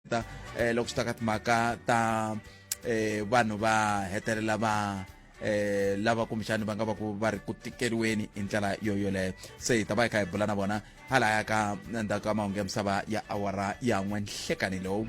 ta eh, loko swi ta ka timhaka ta eh, vanhu va hetelela va eh lava kumbexani va nga va ku va ri ku tikeriweni hi ndlela yo yoleyo se hi ta va hi kha hi bula na vona halaya ka ndzhaku ka mahungu ya misava ya awara ya n'we nhlekani lowu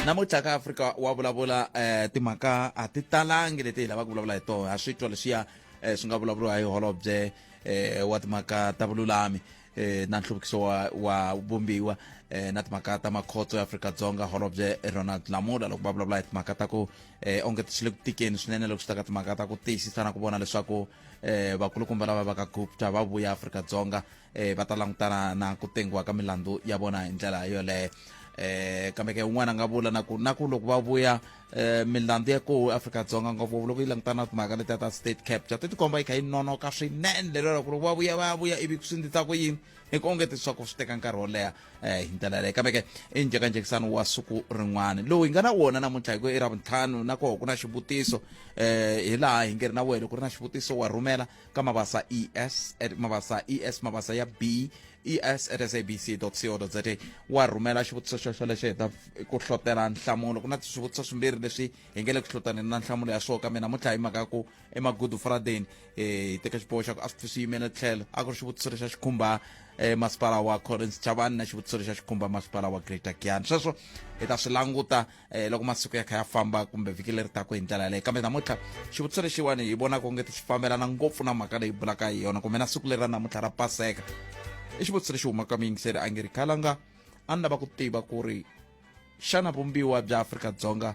namuntlha ka afrika wa vulavula eh timhaka a ti talangi leti hi lavaka ku vulavula hi tona ha swi twa leswiya eh, swi nga vulavuriwa hi holobye eh, wa timhaka ta vululami eh, na nhluvukiso wa, wa vumbiwa eh, na timhaka ta makhotso ya afrika-dzonga holobye ronald lamula loko va vulavula hi timhaka ta ku eh, onge swi le ku tikeni swinene loko swi ta ka timhaka ta ku tiyisisa na ku vona leswaku eh, vakulukumba lava va ka gupta va vuya afrika-dzonga eh va ta langutana na ku tengiwa ka milandzu ya vona hi ndlela yoleyo eh kambe ke un'wana a nga vula na ku na ku loko va vuya eh milandzu ya koho afrika-dzonga ngopfu loko yi langutana na timhaka letiya ta state capture ti tikomba yi kha yi nonoka swinene lero ku loko va vuya va vuya ivi swi ndzi ta ku yini hi ku onge leswaku swi teka nkarhi wo leha um hi ndlela leyo kambe ke i njhekanjhekisano wa siku rin'wana lowu hi nga na wona namuntlha hi ku i ra vuntlhanu na koho ku na xivutiso um hi laha hi nge ri na wena ku ri na xivutiso wa rhumela ka mabasa es at mabasa es mabasa ya b es at sabc co za wa rhumela xivutiso xexo lexi heta ku hlotela nhlamulo ku na swivutiso swimbirhi leswi hi nge le ku hlotaneni na nhlamulo ya swoho kambe namuntlha hi mhaka ku emagudu friday um eh, hi teke xiboho xa ku a swi swi yimele tlhelo a ku ri xivutiso lexa xi khumba um masipala wa collins chavani na xivutiso lexa xi khumba masipala wa greater gian sweswo hi ta swi languta eh, loko masiku ya kha ya famba kumbe vhiki leri taku hi ndlela yaleyo kambe namuntlha xivutiso lexiwani hi vonaka u nge ti xi fambelana ngopfu na mhaka leyi bulaka hi yona kumbe na siku leri ra namuntlha ra paseka i xivutiso lexi humaka muyingiseri a nge ri khalanga a ni lava ku tiva ku ri xana vumbiwa bya afrika-dzonga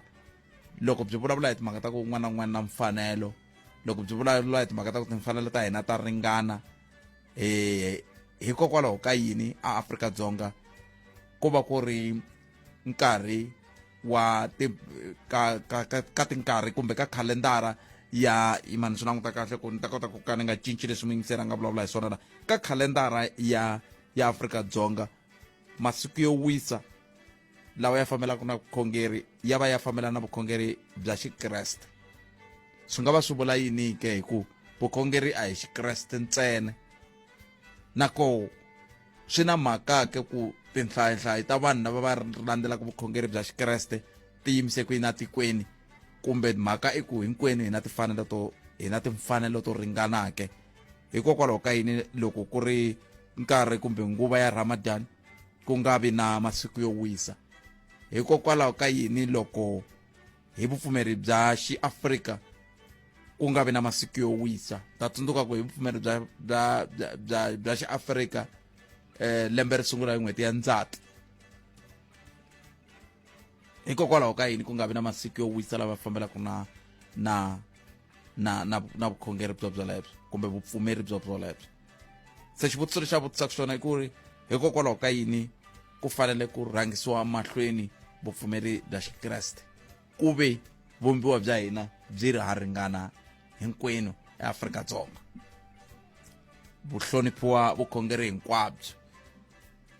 loko byi vulavula hi timhaka ta ku un'wana na un'wana na mfanelo loko byi vulavula hi timhaka ta ku timfanelo ta hina ta ringana um hikokwalaho ka yini a afrika-dzonga ku va ku ri nkarhi wa ti ka ka ka, ka tinkarhi kumbe ka khalendara ya imani swi languta kahle ku ni ta kota ku ka ni nga cinci leswi muyingiseri a nga vulavula hi swona la ka khalendara ya ya afrika dzonga masiku yo wisa lawa ya fambelaka na vukhongeri ya va ya fambelana na vukhongeri bya xikreste swi nga va swi vula yini ke hi ku vukhongeri a hi xikreste ntsena na ko swi na mhaka-ke ku tinhlayihlayi ta vanhu lava va landzelaka vukhongeri bya xikreste ti yimise ku yini etikweni kumbe mhaka i ku hinkwenu hi na tifanelo to hi na timfanelo to ringanake hikokwalaho ka yini loko ku ri nkarhi kumbe nguva ya ramadan ku nga vi na masiku yo wisa hikokwalaho ka yini loko hi vupfumeri bya xiafrika ku nga vi na masiku yo wisa ta tsundzuka ku hi vupfumeri bya bya bya bya, bya xiafrika eh, lembe ri sungula hi n'hweti ya ndzati hikokwalaho ka yini ku nga vi na masiku yo wisa lava fambelaka na na na na na vukhongeri byo byolebyo kumbe vupfumeri byo byolebyo se xivutiso lexi a vutisaka xona i ku ri hikokwalaho ka yini ku fanele ku rhangisiwa mahlweni vupfumeri bya xikreste ku ve vumbiwa bya hina byi ri ha ringana hinkwenu eAfrika-Dzonga vuhloniphiwa vukhongeri hinkwabyo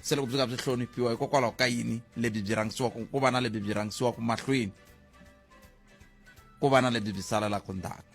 se loko byi nga byi hloniphiwa hikokwalaho ka yini lebyi byi rhangisiwaka ku va na lebyi byi rhangisiwaka mahlweni ku va na lebyi byi salelaka ndzhaku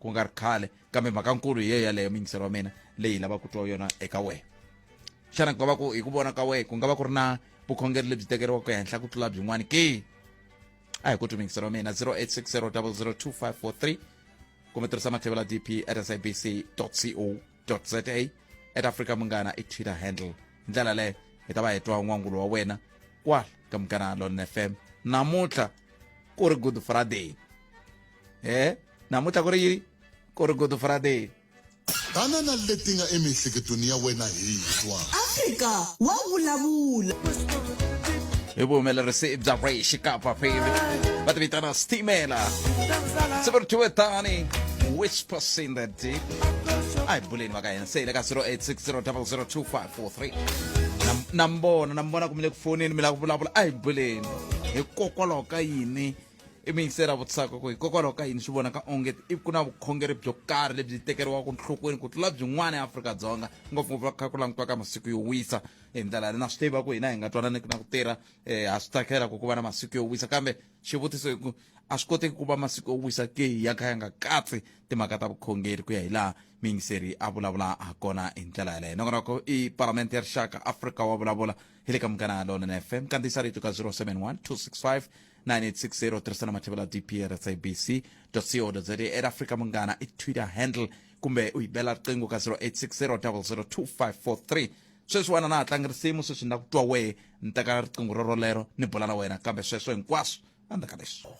ku nga ri khale kambe mhakankulu hi yeyo yaleyo mingiselo wa mina leyi lava ku twa yona eka wena xana ku nga va ku hi ku vona ka wena ku nga va ku ri na vukhongeri lebyi tekeriwaka ehenhla ku tlula byin'wana ke a hi ku twi mingiselo wa mina 0860 002543 kumbe tirhisa matlhevelo ya dp at sabc co za at africa munghana i twitter handle hi ndlela leyo hi ta va hi twa n'wangulo wa wena kwala ka munghana lon fm namuntlha ku ri good friday he eh? namuntlha ku ri yini ku ri good friday banana leti nga emiehleketweni ya wena hi twa afrika wa vulavula hi vuhumelerisi bya race kapa phili va ti vitana stimela se va ri thiwe tani whispers in the deep a hi buleni va ka hina se hi le ka 0860002543 na mbona na mbona ku mi le ku foneni mi lava ku vulavula a hi buleni hikokwalaho ka yini i mi yingisela vutisaka ku hikokwalaho ka yini swi vonaka onge i ku na vukhongeri byo karhi lebyi tekeriwaka nhlokweni ku tlula byin'wana eafrika-dzonga ngopfungopfu va kha ku langutiwaka masiku yo wisa hi ndlela leyi na swi tiva ku hina hi nga twananiki na ku tirha um ha swi tsakela ku ku va na masiku yo wisa kambe xivutiso i ku a swi koteki ku va masiku yo wisa ke ya kha ya nga katsi timhaka ta vukhongeri ku ya hi laha miyingiseri a vulavula ha kona hi ndlela yaleyo nokonoko i parlamente ya rixaka afrika wa vulavula hi le ka munghana lona na fm kandziyisa rito ka 071 265 9860 tirhisana mathevela dpr sabc co za at africa munghana i twitter handle kumbe u yi bela riqingho ka 0860002543 sweswi wena na ha tlangi risimu sweswi na ku twa wehe ni teka riqingho ro rolero ni bula na wena kambe sweswo hinkwaswo a ndzi ka leswi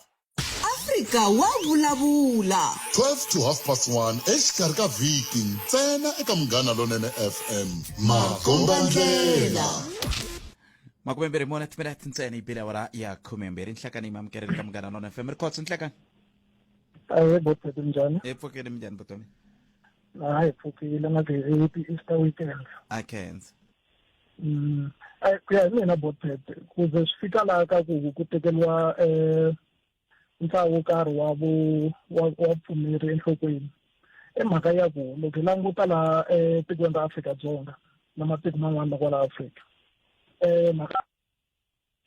afrika wa vulavula 12 to half past 1 exikarhi ka vhiki ntsena eka munghana lonene fm makombandlela makume mbirhi mune timinete ntsena yi bile awara ya khume mbirhi nhlakani yi mamukelele ka munghana lona fm ri khotso nhlakani ahe botsati njhani hi pfukile minjhani vutomi ha hi pfukile nga happy easter weekend a khensa mm ku ya hi mina botsati ku ze swi fika laha ka ku ku tekeriwa um eh, ntlawa wo karhi wa vo wa wa pfumeri enhlokweni i mhaka ya ku loko hi languta laha etikweni ra Afrika-Dzonga na matiko man'wana kwala Afrika eh mhaka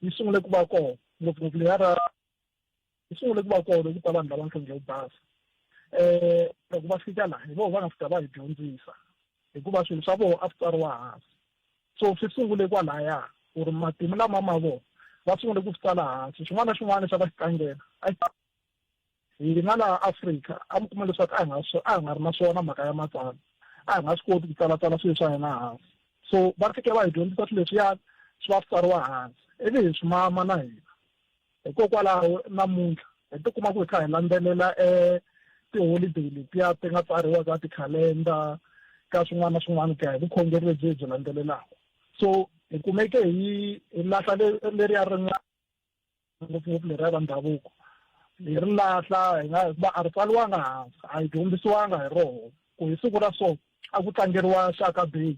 yi sungule ku va kona ngopfungopfu leya ra yi sungule ku va kona loko ta vanhu lava nhlonge yo basa eh loko va fika laha hi vona va nga fika va hi dyondzisa hikuva swilo swa vona a swi tsariwa hansi So swi sungule kwalaya ku ri matimu lama ma vona va sungule ku swi tsala hansi xin'wana na xin'wana lexi a va xi tlangela hina laha afrika a mi kuma leswaku a hi nga a hi nga ri na swona mhaka ya matsalwa a hi nga swi koti ku tsalatsala swilo swa hina hansi so va fike va hi dyondzisa swilo leswiyani swi va swi tsariwa hansi ivi hi swi mama na hina Hikokwalaho namuntlha hi tikuma ku hi kha hi landzelela e tiholideyi letiya ti nga tsariwa ka tikhalenda ka swin'wana na swin'wana ku ya hi vukhongeri lebyi hi byi landzelelaka so hi kumeke hi hi lahla leriya rin'wana ngopfungopfu leriya ra ndhavuko hi ri lahla hi nga hikuva a ri tsaliwanga hansi a hi dyondzisiwanga hi roho ku hi siku ra so a ku tlangeriwa shaka beyi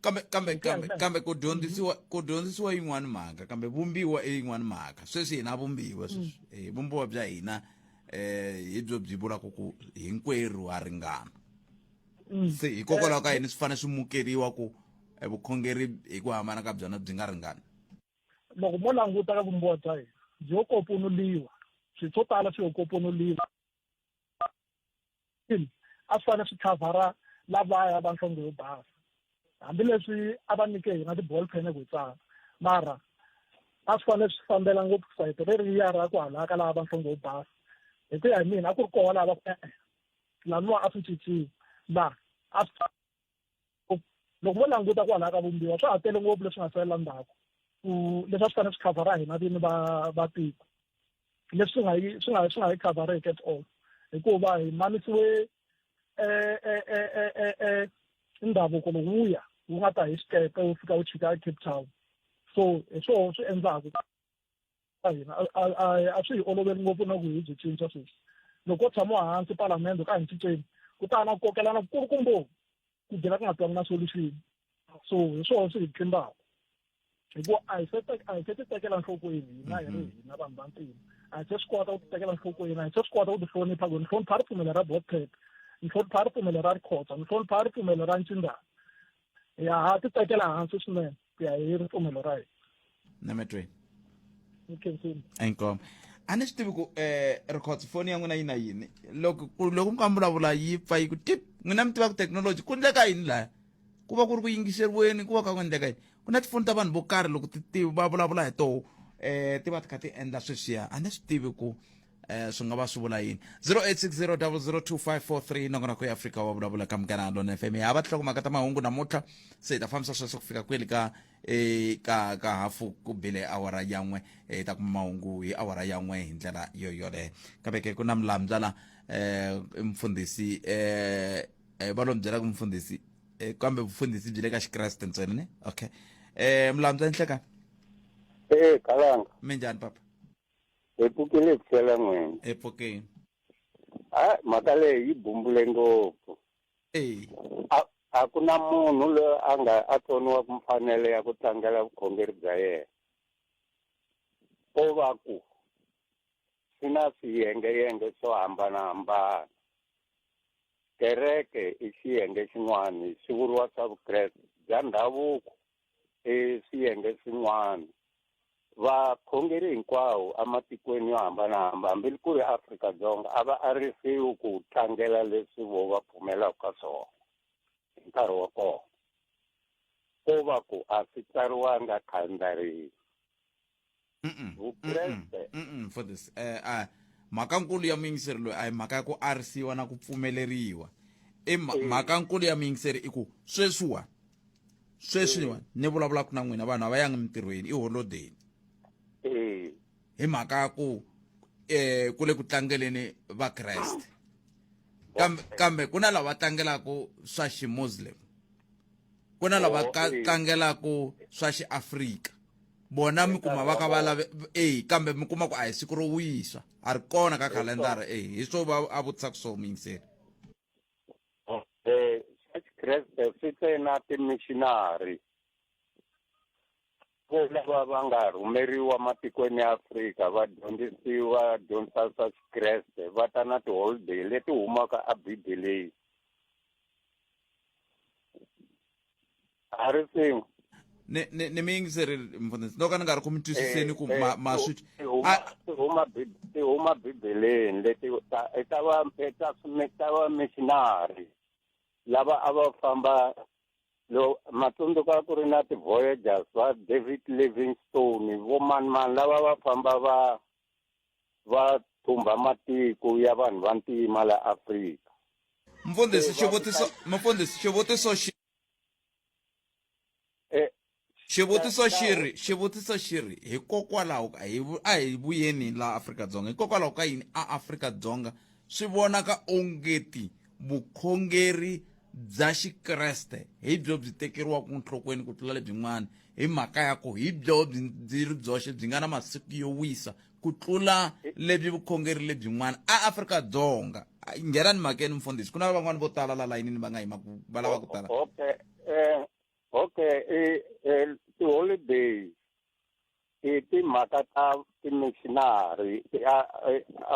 kambe kambe kambe kambe ku dyondzisiwa ku dyondzisiwa yin'wana mhaka kambe vumbiwa i yin'wana mhaka sweswi hina vumbiwa sweswi mm. eh, vumbiwa bya hina eh hi byo byi vulaka ku hinkwerhu ha ringana mm. se hikokwalaho ka yini swi fanele swi mukeriwa ku eh, vukhongeri hi ku hambana ka byona byi nga ringani loko mo languta ka vumbiwa bya hina byi yo koponuliwa swilo swo tala swi yo koponuliwa a swi fanele swi khavhara lavaya va nhlonge yo basa hambileswi a va nyike hina ti-ball pen ku tsala mara a swi fanele swi fambela ngopfu sayiti reriya ra ku halaka lava va nhlonge yo basa hi ku ya hi mina a ku ri koho lava ku laniwa a swi cinciwi laha a swi loko mo languta kwalaha ka vumbiwa swa ha tele ngopfu leswi nga salela ndzhaku ku leswi a swi fanele swi khavhara hina vini va va tiko leswi swi nga yi swi nga swi nga yi khavhareki at all hikuva hi manisiwe ndhavuko lowuya wu nga ta hi xikepe wu fika wu chika ecape town so hi swoho swi endlaku a hina a swi hi oloveli ngopfu na ku hi byi cinca sweswi loko tshama hansi palamende ka hi cinceni ku ta na ku kokelana kukulu kumbovu ku byela ku nga twangi na solution so hi swona swi hi tlimbaka hikuva a hi se a hi se ti tekela nhlokweni hina hi ri mm-hmm. hina vanhu va ntima a hi se swi kota ku ti tekela nhlokweni a hi se swi kota ku ti hlonipha ku ni hlonipha ripfumelo ra botpep ni hlonipha ripfumelo ra rikhotsa ni hlonipha ripfumelo ra ncindana ya ha ti tekela hansi swinene ku ya hi ripfumelo ra hina nametweni nkensini inkomo a ni swi tivi ku eh records foni ya n'wina yi na yini loko ku- loko mi ka mi vulavula yi pfa yi ku tip n'wina mi tiva ku technology ku endleka yini laya ku va ku ri ku yingiseriweni ku va ka ku endleka yini ku na tifoni ta vanhu vo karhi loko ti ti va vulavula hi toho eh ti va ti kha ti endla sweswiya a ni swi tivi ku eh swi nga va swi vula yini 0860002543 nongonoko ya afrika wa vulavula ka mugana lona fm ya va tihlakumaka ta mahungu namuntlha se hi ta fambisa sweswo ku fika kweli ka eh, ka ka hafu ku bile awara yan'we eh, hi ta kuma mahungu hi awara yan'we hi ndlela yo yoleyo kambe ke ku na milamdza la eh mfundhisi eh eh, va lo mi byela ku mfundhisi eh, kambe vufundhisi byi le ka xikreste ntsena ne okay eh milamdza nhlekani ee kalanga mi njhani papa Hi pfukile hi pfukela n'wini. Hi pfukile. Hayi mhaka leyi yi bumbule ngopfu. Eyi. A a ku na munhu loyi a nga a tsoniwaka mfanelo ya ku tlangela vukhongeri bya yena. Ko va ku swi na swiyengeyenge swo hambanahambana. Kereke i xiyenge xin'wana swi vuriwa swa vukreste bya ndhavuko. eswiyenge swin'wana vakhongeri hinkwawo ematikweni yo hambanahamba hambi ku ri afrika dzonga a va arisiwi ku tlangela leswi vo va pfumelaka ka swona hi nkarhi wa kona ko va ku a swi tsariwanga khalendariyi vukreste for this eh, ah, mhaka nkulu ya muyingiseri loyi a hi mhaka ya ku arisiwa na ku pfumeleriwa i eh. mhaka nkulu ya muyingiseri i ku sweswiwani sweswiwani eh. ni vulavulaka na n'wina vanhu a va yangi mintirhweni i holodeni hi mhaka ya ku eh ku le ku tlangeleni va Kreste kambe kambe ku na lava tlangelaka swa ximuslim ku na lava oh, tlangelaku swa xiafrika vona mi kuma va ka va lave e kambe mi kuma ku a hi siku ro wisa a ri kona ka khalendara e hi swo va a vutisa ku swo muyingiseri um eh, xa xikreste swi tsena timishinari vo lava va nga rhumeriwa matikweni ya afrika va dyondzisiwa dyondzisa swa xikreste va ta na tiholiday leti humaka ebibeleni a ri tsengwa ne ne ne mi yingiseri mfundhisi no ka ni nga ri ku mi twisiseni ku ma ma swi ti huma ti huma bibeleni leti ta ta va ta ta va missionary lava a va famba lo matsundzuka ku ri na ti-voyagers va david livingstone vo manimani lava va famba va va thumbha matiko ya vanhu va ntima la Afrika. Mfundhisi xivutiso mfundhisi xivutiso xi eh, xivutiso xi ri xivutiso xi ri hikokwalaho ka hi a hi vuyeni la Afrika-Dzonga hikokwalaho ka yini a Afrika-Dzonga swi vonaka ongeti vukhongeri bya xikreste hi byo byi tekeriwaka nhlokweni ku tlula lebyin'wana hi mhaka ya ku hi byo byi byi ri byoxe byi nga na masiku yo wisa ku tlula lebyi vukhongeri lebyin'wana aafrika-dzonga nghena ni mhakeni mfundhisi ku na van'wani vo tala la layinini va nga yimaku va lava ku tala okay um okay um um tiholiday hi timhaka ta timishinari a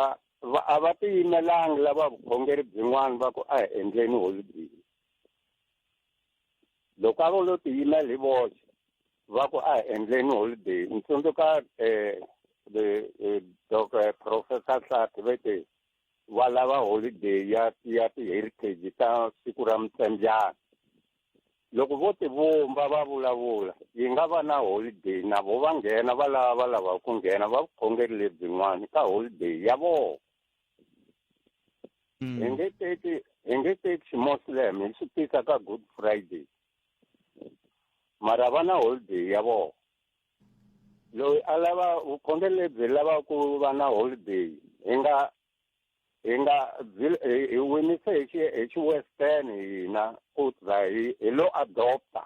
a va a va tiyimelanga lava vukhongeri byin'wana va ku a hi endleni holibini loko a vo lo tiyimela hi voxe va ku a hi endleni holiday ni tsundzuka um dok professor hlati ve te va lava holiday ya ya ti-heritage ta siku ra mutsembyana loko vo tivumba va vulavula yi nga va na holiday na vo va nghena va lava va lavaka ku nghena va vukhongeri lebyin'wana ka holiday ya vona mm. hi nge teki hi nge teki ximuslem hi xi tisa ka good friday mara va na holiday ya vona loyi a lava vukhongeri lebyi lava ku va na holiday hi nga hi nga hi winise hi xi hi xi western hina ku za hi hi lo adopta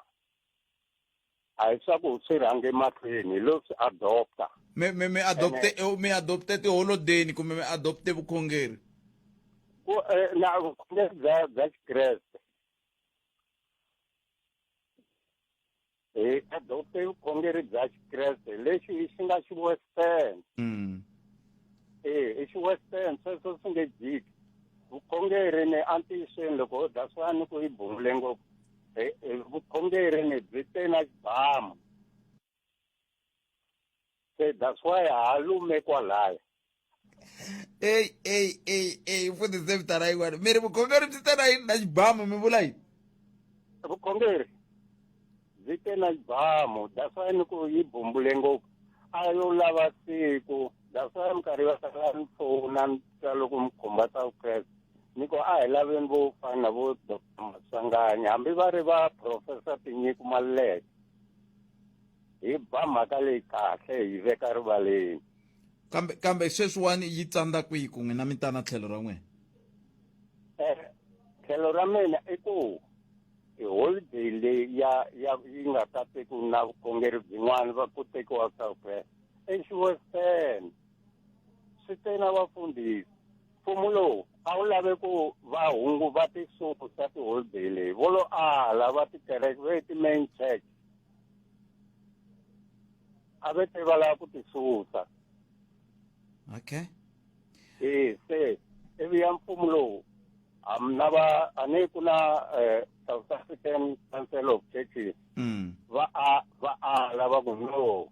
a hi swa ku swi rhange mahlweni hi lo swi adopta mi mi mi adopte mi adopte tiholodeni kumbe mi adopte vukhongeri ku eh, na vukhongeri bya bya xikreste hi adopte vukhongeri bya xikreste lexi i xi nga xi western mm. e i xi western sweswo swi nge jiki vukhongeri ni antiyisweni loko ho dya swa ni ku yi bumule ngopfu vukhongeri ni byi te na xibamu Eh, that's why halume kwalaya eyi eyi eyi eyi mfundhise vita ra yin'wana mi ri vukhongeri byi te na yini na xibamu mi vula yini vukhongeri byi te na xibamu that's why ni ku yi bumbule ngopfu a yo lava siku that's why minkarhi yo tala ni pfuna ni twa loko mi khumba ta vukreste ni ku a hi laveni vo fana na vo doctor masanganya hambi va ri va professor tinyiko maluleke hi ba mhaka leyi kahle hi veka rivaleni kambe kambe sweswiwani yi tsandza kwihi ku n'wina mi tana tlhelo ra n'wina eh, tlhelo ra mina i ku holiday leyi ya ya yi nga ta teku na vukhongeri byin'wana va ku tekiwa southwest exiwestern swi te na vafundhisi mfumo lowu a wu lave ku va hungu va tisuku sa tiholiday leyi vo lo ala va tikereke ve ti-main church a ve te va lava ku ti susa okay e se ivi ya mfumo lowu na va a ni ku na um south african council of churches mm. va a va ala va ku no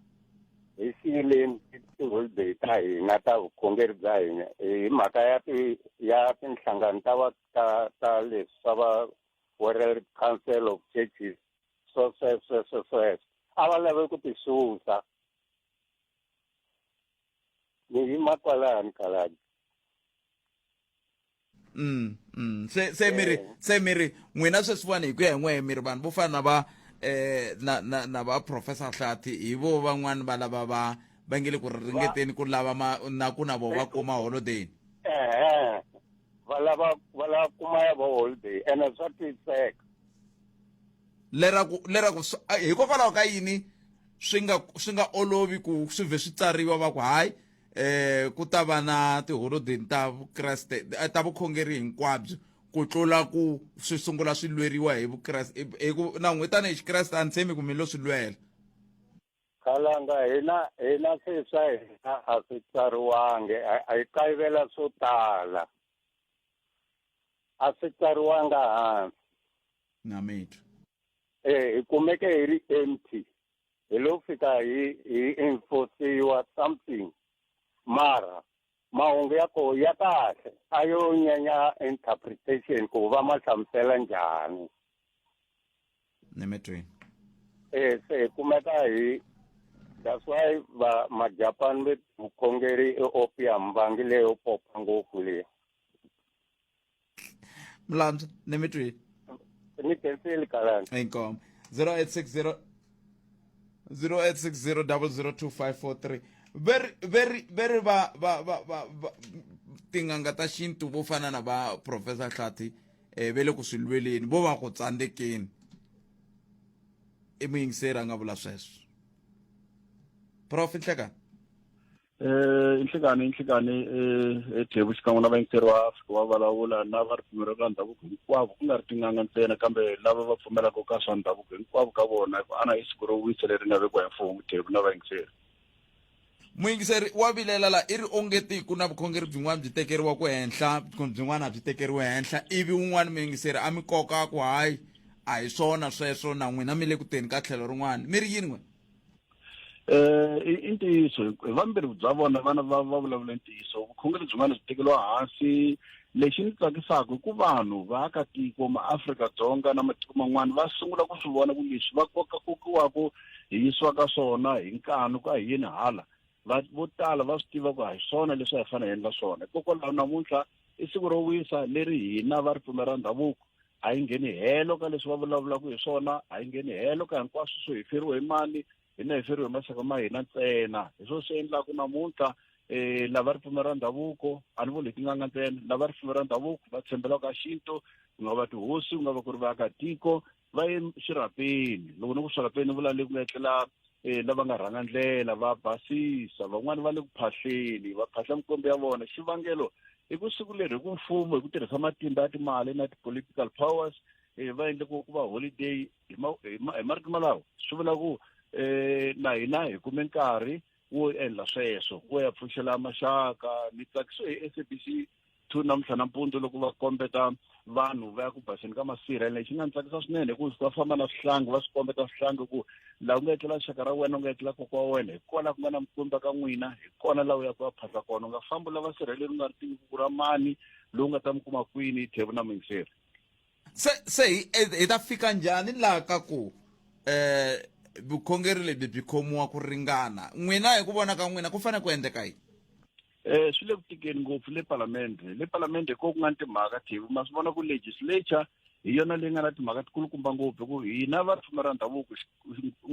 hi siyileni tiholiday ta hina ta vukhongeri bya hina hi mhaka ya ti ya tinhlangano ta va ta ta leswi swa va world council of churches so sweswo sweswo sweswo a va lave ku ti susa ni yima kwalani khaladi mm mm se se miri eh. se miri n'wina sweswiwani hi ku ya hi n'wehe miri vanhu vo fana na va eh na na na va professor hlati hi vo van'wani va lava va va nge le ku ringeteni ku lava ma na ku na vo va kuma holiday ehe va lava va lava kuma ya vo holiday ene swa twiseka leraku leraku hikokwalaho ka yini swi nga swi nga olovi ku swi vhe swi tsariwa va ku hayi eh ku ta va na tiholodeni ta vukreste eh, ta vukhongeri hinkwabyo ku tlula ku swi sungula swi lweriwa hi vukreste hi ku na n'witana hi xikreste a ni tshemi ku mi lo swi lwela Khalanga hina hina se swa hina a swi tsariwangi a hi kayivela swo tala a swi tsariwanga hansi namethu eh hi kumeke hi ri empty hi lo fika hi hi enforciwa something mara mahungu ya koho ya kahle a yo nyanya interpretation ku va ma hlamusela njhani ni mi twini eh se hi kumeka hi that's why va majapani ve vukhongeri i opium vangi leyo popa ngopfu leyi mlantswa ni mi twile ni penseli kalani inkomo 0860 0860002543 veri veri veri va va va va va- tin'anga ta xintu vo fana na va professor hlati um ve le ku swi lweleni vo va ku tsandzekeni i muyingiseri a nga vula sweswo prof nhlekani Eh, inhlekani inhlekani eh, ethebu xikan'we na vayingiseri va afrika va vulavula na va ripfumelo ka ndhavuko hinkwavo ku nga ri tin'anga ntsena kambe lava va pfumelaka ka swa ndhavuko hinkwavo ka vona hi ku ana i siku ro wisa leri nga vekiwa hi mfumo thebu na vayingiseri muyingiseri wa vilela la i ri ongeti ku na vukhongeri byin'wana byi tekeriwa ku henhla vukhongeri byin'wana a byi tekeriwe henhla ivi wun'wana muyingiseri a mi koka ku hayi a hi swona sweswo na n'wina mi le ku teni ka tlhelo rin'wana mi ri yini n'wina Eh, i ntiyiso hi vambirhi bya vona vana va va vulavula ntiyiso vukhongeri byin'wana byi tekeriwa hansi lexi ni tsakisaka i ku vanhu vaakatiko maafrika-dzonga na matiko man'wana va sungula ku swi vona ku leswi va koka kokiwaka hi yisiwaka swona hi nkanu ka hi yini hala va vo tala va swi tiva ku a hi swona leswi a hi fanele hi endla swona hikokwalaho namuntlha i siku ro wisa leri hina va ripfumela ra ndhavuko a yi ngheni helo ka leswi va vulavulaka hi swona a yi ngheni helo ka hinkwaswo swo hi feriwe hi mali hina hi feriwe hi maxaka ma hina ntsena hi swona swi endlaka namuntlha um lava ripfumelo ra ndhavuko a ni vuli hi tin'anga ntsena lava ripfumelo ra ndhavuko va tshembela ka xintu ku nga va tihosi ku nga va ku ri vaakatiko va ye xirhapeni loko ni ku swirhapeni ni vula le ku nga etlela um lava nga rhanga ndlela va basisa van'wani va le ku phahleni va phahla mikombe ya vona xivangelo hi ku siku leri hi ku mfumo hi ku tirhisa matimba ya timali na ti-political powers um va endle ku ku va holiday hi marito malawo swi vula ku um na hina hi kume nkarhi wo endla sweswo wo ya pfuxela maxaka ni tsakisiwe hi s a b c two namuntlha nampundzu loko va kombeta vanhu va ya ku baseni ka masirha lexi nga ni tsakisa swinene hi ku va famba na swihlangi va swi kombeta swihlangi ku laha ku nga etlela xaka ra wena u nga etlela koko wa wena hi kona ku nga na mikwemba ka n'wina hi kona laha u ya ku ya phasa kona u nga fambi u lava sirheleli u nga ri tivi ku ra mani lowu nga ta mi kuma kwini hi tlhevu na minsirhi se se hi hi ta fika njhani laha ka ku um vukhongeri lebyi byi khomiwa ku ringana n'wina hi ku vona ka n'wina ku fanele ku endleka yini Eh swi le ku tikeni ngopfu le palamende le palamende ko ku nga ni timhaka thivi ma swi vona ku legislature hi yona leyi nga na timhaka tikulukumba ngopfu hi ku hina va ripfumba ra ndhavuko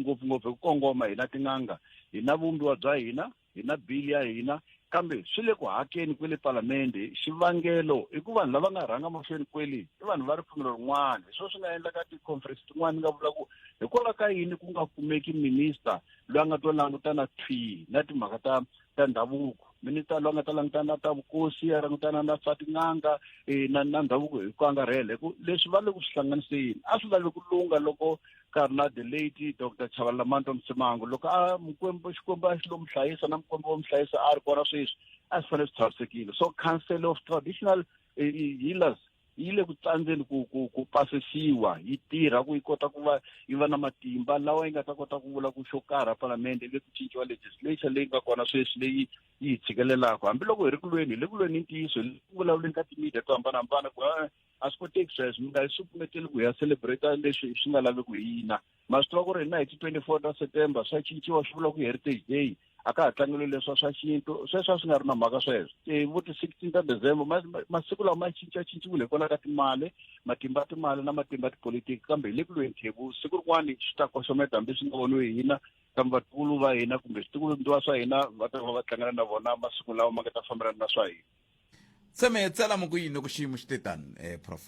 ngopfungopfu hi ku kongoma hina tin'anga hi na vumbiwa bya hina hi na bili ya hina kambe swi le ku hakeni kwele palamende xivangelo i ku vanhu lava nga rhanga mahlweni kweli i vanhu va ripfumelo rin'wana hi swo swi nga endlaka ti-conference tin'wana ni nga vula ku hikwalaho ka yini ku nga kumeki minister loyi a nga to langutana thwi na timhaka ta ta ndhavuko minista loyi a nga ta langutana na ta vukosi a langutana na swa tin'anga um na na ndhavuko hi ku angarhela hi ku leswi va le ku swi hlanganiseni a swi lavi ku lunga loko ka ri na the late doctor chavalamanta msimango loko a mukwembu xikwembu a xi lo mu hlayisa na mukwembu wo mu hlayisa a ri kona sweswi a swi fanele swi tshamisekile so council of traditional healers yi le ku tsandzeni ku ku ku pasisiwa yi tirha ku yi kota ku va yi va na matimba lawa yi nga ta kota ku vula ku xo karha palamende le ku cinciwa legislation leyi nga kona sweswi leyi yi hi tshikelelaka hambiloko hi ri kulweni hi le kulweni ni ntiyiso hi le ku vulavuleni ka timedia to hambanahambana ku a swi koteki sweswo mi nga hi sukumeteli ku hi ya celebrate leswi swi nga laveki hi yina ma swi tiva ku ri hina hi ti twenty four ta september swa cinciwa swi vula ku heritage day a ka ha tlangeliwe leswa swa xintu sweswo a swi nga ri na mhaka sweswo ti vo ti-sixteen ta december masiku lawa ma cincacinciwile hikwalaho ka timali matimba ya timali na matimba ya tipolitiki kambe hi le ku lweni thebu siku rin'wana swi ta koxometa hambi swi nga voniwi hi hina kambe vatukulu va hina kumbe switikulumbyiwa swa hina va ta va va tlangela na vona masiku lawa ma nga ta fambelana na swa hina tseme tsala mo ku yini loko xiyimo xi te tani um prof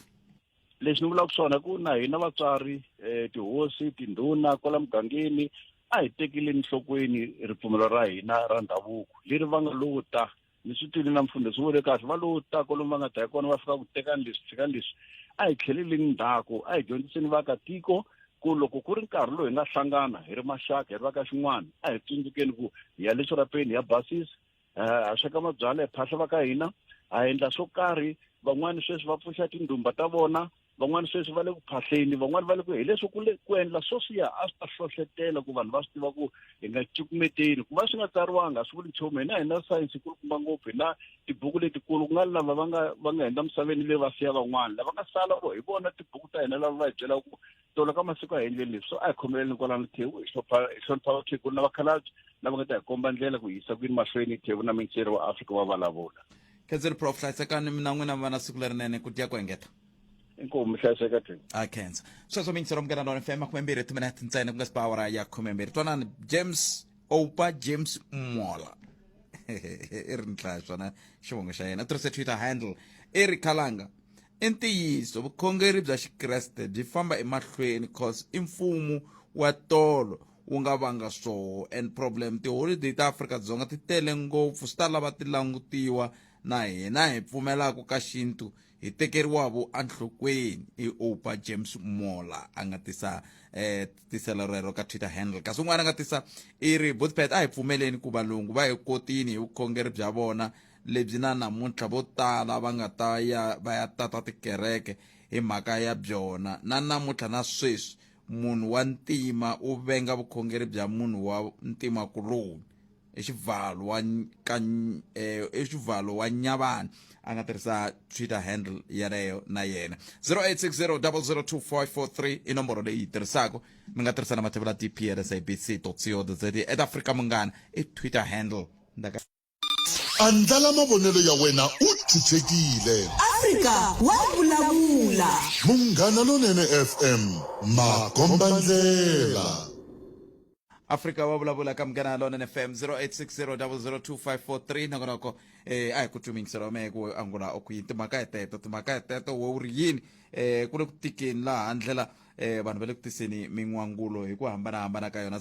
lexi ni vulaka swona ku na hina vatswari um tihosi tindhuna kwala mugangeni a hi tekeleni nhlokweni ripfumelo ra hina ra ndhavuko leri va nga lowo ta ni swi twile na mfundo swi vule kahle va lowo ta kolomu va nga ta hi kona va fika ku tekani leswi tshikani leswi a hi tlheleleni ndzhaku a hi dyondziseni vaakatiko ku loko ku ri nkarhi lowu hi nga hlangana hi ri maxaka hi ri va ka xin'wana a hi tsundzukeni ku hi ya le xirapeni hi ya basisa eh, a sweka mabyala hi phahla va ka hina a endla swo karhi van'wani sweswi va pfuxa tindhumba ta vona van'wani sweswi va le ku phahleni van'wani va le ku hi leswi ku le ku endla swo swiya a swi ta hlohletela ku vanhu va swi tiva ku hi nga cukumeteli ku va swi nga tsariwanga a swi vuli nchumu hina hi na sayense kulukumba ngopfu hi na tibuku letikulu ku nga lava va nga va nga hundza misaveni leyi va siya van'wana lava nga sala vo hi vona tibuku ta hina lava va hi byelaka ku tolo ka masiku a hi endleni leswi so a hi khomeleleni kwalano thevu hi hlonipha vakhegulu na vakhalabye lava nga ta hi komba ndlela ku yisa kwini mahlweni thevu na minceri wa afrika wa vulavula khenseli prof hlayisekani mina n'wina va na siku lerinene ku dya ku engeta inkomu mi hlayiseka thevu a khensa sweswo mincero mukela nona fm khume mbirhi timinete ntsena ku nga sipa awara ya khume mbirhi twanani james opa james mola i ri ni hlaya swona xivongo xa yena u tirhise twitter handle i ri khalanga I ntiyiso vukhongeri bya Xikreste byi famba emahlweni cause i mfumo wa tolo wu nga vanga swoho and problem tiholiday ta Afrika-Dzonga ti tele ngopfu swi ta lava ti langutiwa na hina hi pfumelaka ka xintu hi tekeriwavo enhlokweni i opa james mola a nga tisa eh tiselo rero ka twitter handle kasi un'wana a nga tisa i ri botpet a hi pfumeleni ku valungu va hi kotini hi vukhongeri bya vona lebyi na namuntlha vo tala va nga ta ya va ya tata tikereke hi mhaka ya byona na namuntlha na sweswi munhu wa ntima u venga vukhongeri bya munhu wa ntima kuloni i xivalo wa ka eh, i xivalo wa nyavana a nga tirhisa twitter handle yaleyo na yena 0860002543 i nomboro leyi yi tirhisaka mi nga tirhisa na mathevula dplsabc co za at africa munghana i twitter handle Andlala mavonelo ya wena u chuchekile. Afrika wa vulavula. Munghana Lonene FM, makombandlela. Afrika wa vulavula ka Munghana Lonene FM 0860002543 nongonoko eh a hi ku tlumingisela wa mehe ku angula o ku yini timhaka hi teto timhaka hi teto wo ri yini eh ku le ku tikeni laha ndlela eh vanhu va le ku tiseni min'wangulo hi ku hambanahambana ka yona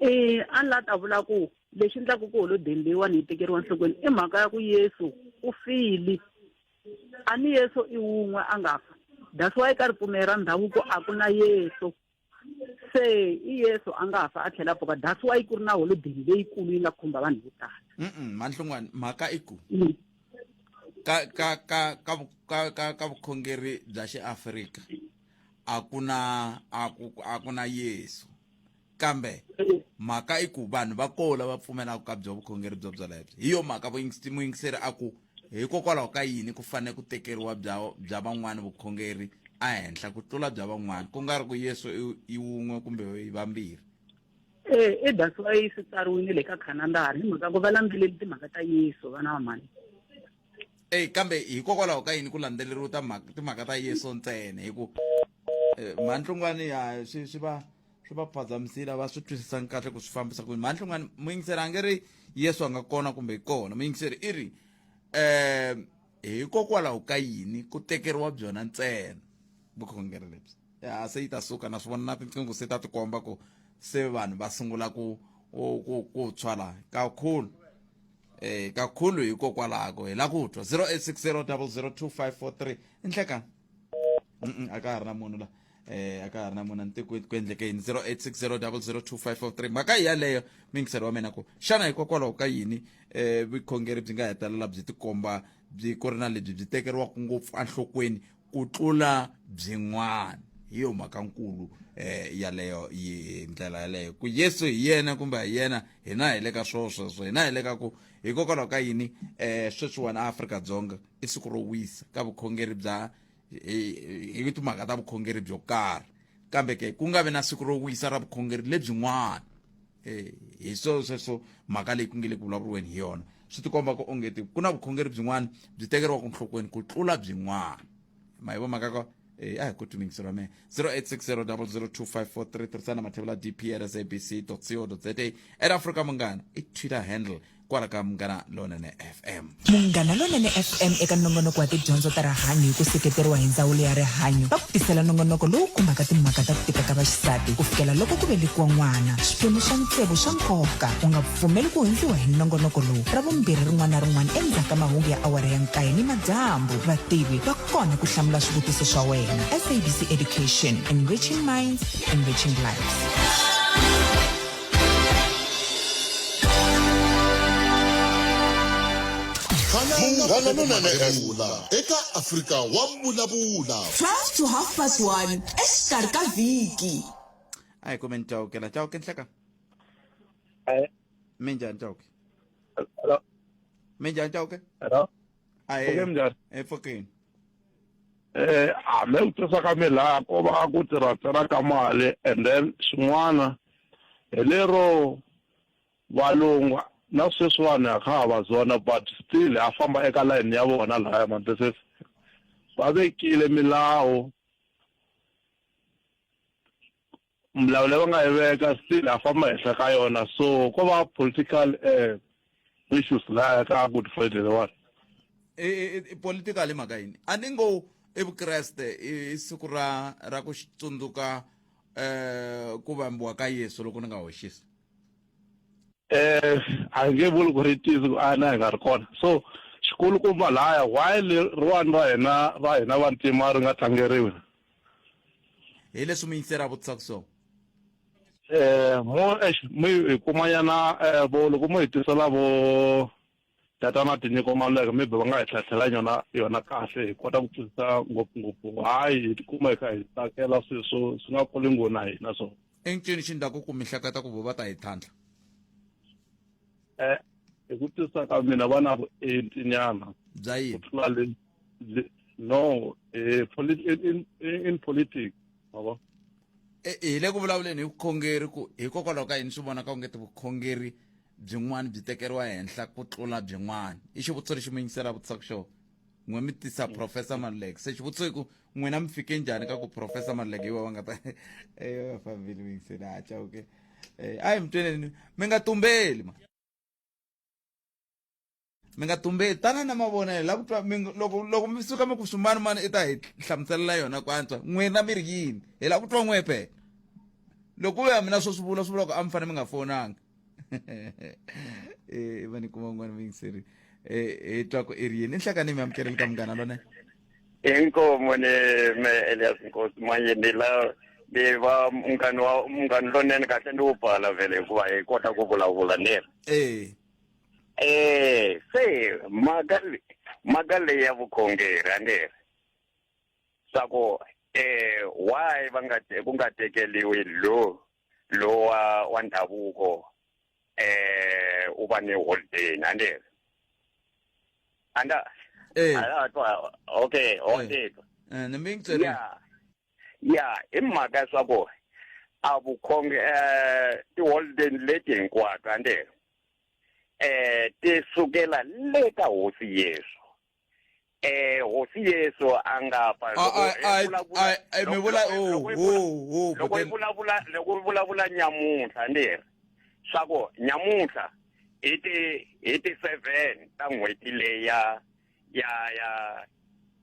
E a ni la ta vula ku lexi endlaku ku holodeni leyiwani yi tekeriwa enhlokweni i mhaka ya ku yesu u file a ni yesu i wun'we a nga fa that's why ka ripfumelo ra ndhavuko a ku na yesu se i yesu a nga fa a tlhela pfuka that's why ku ri na holodeni leyikulu yi nga khumba vanhu vo tala manhlungwani mhaka i ku mm. ka ka ka ka ka ka ka vukhongeri bya xiafrika a ku na a ku a ku na yesu kambe mhaka i ku vanhu va koho lava pfumelaka ka byo vukhongeri byo byolebyo hi yo mhaka muyingiseri a ku hikokwalaho ka yini ku fanele ku tekeriwa bya bya van'wana vukhongeri ehenhla ku tlula bya van'wana ku nga ri ku yesu i wun'we kumbe i vambirhi e i that's why swi tsariwile le ka khanandara hi mhaka ku va landzeleli timhaka ta yesu vana va mhani eyi kambe hikokwalaho ka yini ku landzeleriwa ta timhaka ta yeso ntsena hi ku eh, mhantlungwani ya swi swi va swi va phazamisile va swi twisisanga kahle ku swi fambisa ku mhantlungwani muyingiseri a nge ri yesu a nga kona kumbe kona muyingiseri i ri um hikokwalaho ka yini ku tekeriwa byona ntsena vukhongeri lebyi ya se yi ta suka na swi vona na tinqingo se ta tikomba ku se vanhu va sungula ku ku ku tshwala kakhulu eh kakhulu hikokwalaho hi la ku twa 0860002543 i nhlekani mm a ka ha ri na munhu la eh a ka ha ri na munhu ni ku ku endleke yini 0860002543 mhaka hi yaleyo mingiselo wa mina ku xana hikokwalaho ka yini eh vukhongeri byi nga hetelela byi tikomba byi ku ri na lebyi byi tekeriwaka ngopfu enhlokweni ku tlula byin'wana hi yo mhaka nkulu eh yaleyo yi ndlela yaleyo ku Yesu hi yena kumbe hi yena hina hi le ka swo sweswo hina hi le ka ku hikokwalaho ka yini eh sweswiwani Afrika Dzonga i siku ro wisa ka vukhongeri bya hi timhaka ta vukhongeri byo karhi kambe ke ku nga vi na siku ro wisa ra vukhongeri lebyin'wana um hi swo sweswo mhaka leyi ku nge le ku vulavuriweni hi yona swi tikomba ku ongeti ku na vukhongeri byin'wana byi tekeriwaka nhlokweni ku tlula byin'wana ma hi vo mhaka ka Eh, a hi ku tumingiso ra mina 0860002543 tirhisana mathevula dp at sabc co za ed africa munghana i twitter handle kwala ka munghana lonene fm munghana lonene fm eka nongonoko wa tidyondzo ta rihanyo hi ku seketeriwa hi ndzawulo ya rihanyo va ku tisela nongonoko lowu khumbaka timhaka ta ku tika ka vaxisati ku fikela loko ku velekiwa n'wana xiphemu xa ntsevu xa nkoka u nga pfumeli ku hundziwa hi nongonoko lowu ra vumbirhi rin'wana na rin'wana endzhaku ka mahungu ya awara ya nkaye ni madyambu vativi va kona ku hlamula swivutiso swa wena sabc education enriching minds enriching lives munghana lonene evula eka afrika wa vulavula 12 to half past 1 exikarhi ka vhiki a hi kumeni chauke la chauke nhleka Eh, minjhani chauke hello, minjhani chauke hello. a hi Pfuke minjhani? epfukeni Eh, hambi u tisa ka milako va ku tirhatsela ka mali and then xin'wana Hi lero valungu na sweswiwani ha kha ha va zona but still ha famba eka layeni ya vona lahaya mani this is va vekile milawu milawu leyi va nga yi veka still ha famba henhla ka yona so ko va political . issues laya ka good friday lewa e, e, e, political i mhaka yini a ni ngo i vukreste i siku ra ra ku tsundzuka um ku vambiwa ka yesu loko ni nga hoxisi eh a nge vuli ku ri tizi ku a na hi nga ri kona so xikulukumba laya why leriwani ra hina ra hina vantima ri nga tlangeriwi hi leswi muyingiseri a vutisaka swona eh mo eish mi hi kuma yana eh, vo loko mo hi tisela vo tatana tinyiko maluleka maybe va nga hi tlhatlhela yona yona kahle hi kota ku twisisa ngopfungopfu hayi hi tikuma hi kha hi tsakela swilo swo swi nga kuli ngo na hina so i ncini xi ndlaku ku mi hleketa ku vo va ta hi tlhantlha eh hi ku twisisa ka mina va na vuenti nyana bya ku yini tlula le no eh, in, in, in politics mavo eh, hi le ku vulavuleni hi vukhongeri ku hikokwalaho ka yini swi vonaka u nge ti vukhongeri byin'wana byi tekeriwa henhla ku tlula byin'wana i xivutiso lexi mi yingisela vutisaka xona n'we mi tisa mm. professor maluleke se xivutiso i ku n'wina mi fike njhani ka ku professor maluleke iwa va nga ta eyo fambile mi yingisela haca oke eh, a hi mi tweneni mi nga tumbeli ma mi nga tumbeli tana na mavonelo la ku twa mi ngo- loko loko mi suka mi ku swimani mani i ta hi hlamuselela yona ku antswa n'wina mi ri yini hi la ku twa n'we phela loko u ya mina swo swi vula swi vula ku a mi fanele mi nga fonanga Eh, va ni kuma un'wana muyingiseri Eh, hi twa ku i ri yini i nhlakani mi amukeleli ka munghana lone inkomo ni me elias nkosi manje ni la ni va munghani wa munghani lonene kahle ni wu pfala vhele hikuva hi kota ku vulavula ni yena ee Eh, se mhaka le- mhaka leyi ya vukhongeri a nge ri swa ku eh why va nga te- ku nga tekeliwi lo lowa wa ndhavuko eh u va ni holiday a nge ri anda Eh. ala twa okay holiday Eh, ni mi ngicela ya ya hi mhaka ya swa ku a vukhonge um tiholideni leti hinkwato a nde um ti sukela le ka hosi yesu eh hosi yesu a nga fa mi vula loko yi vulavula loko yi vulavula nyamuntlha ni ri swa ku nyamuntlha hi ti hi ti seven ta n'hweti leya ya ya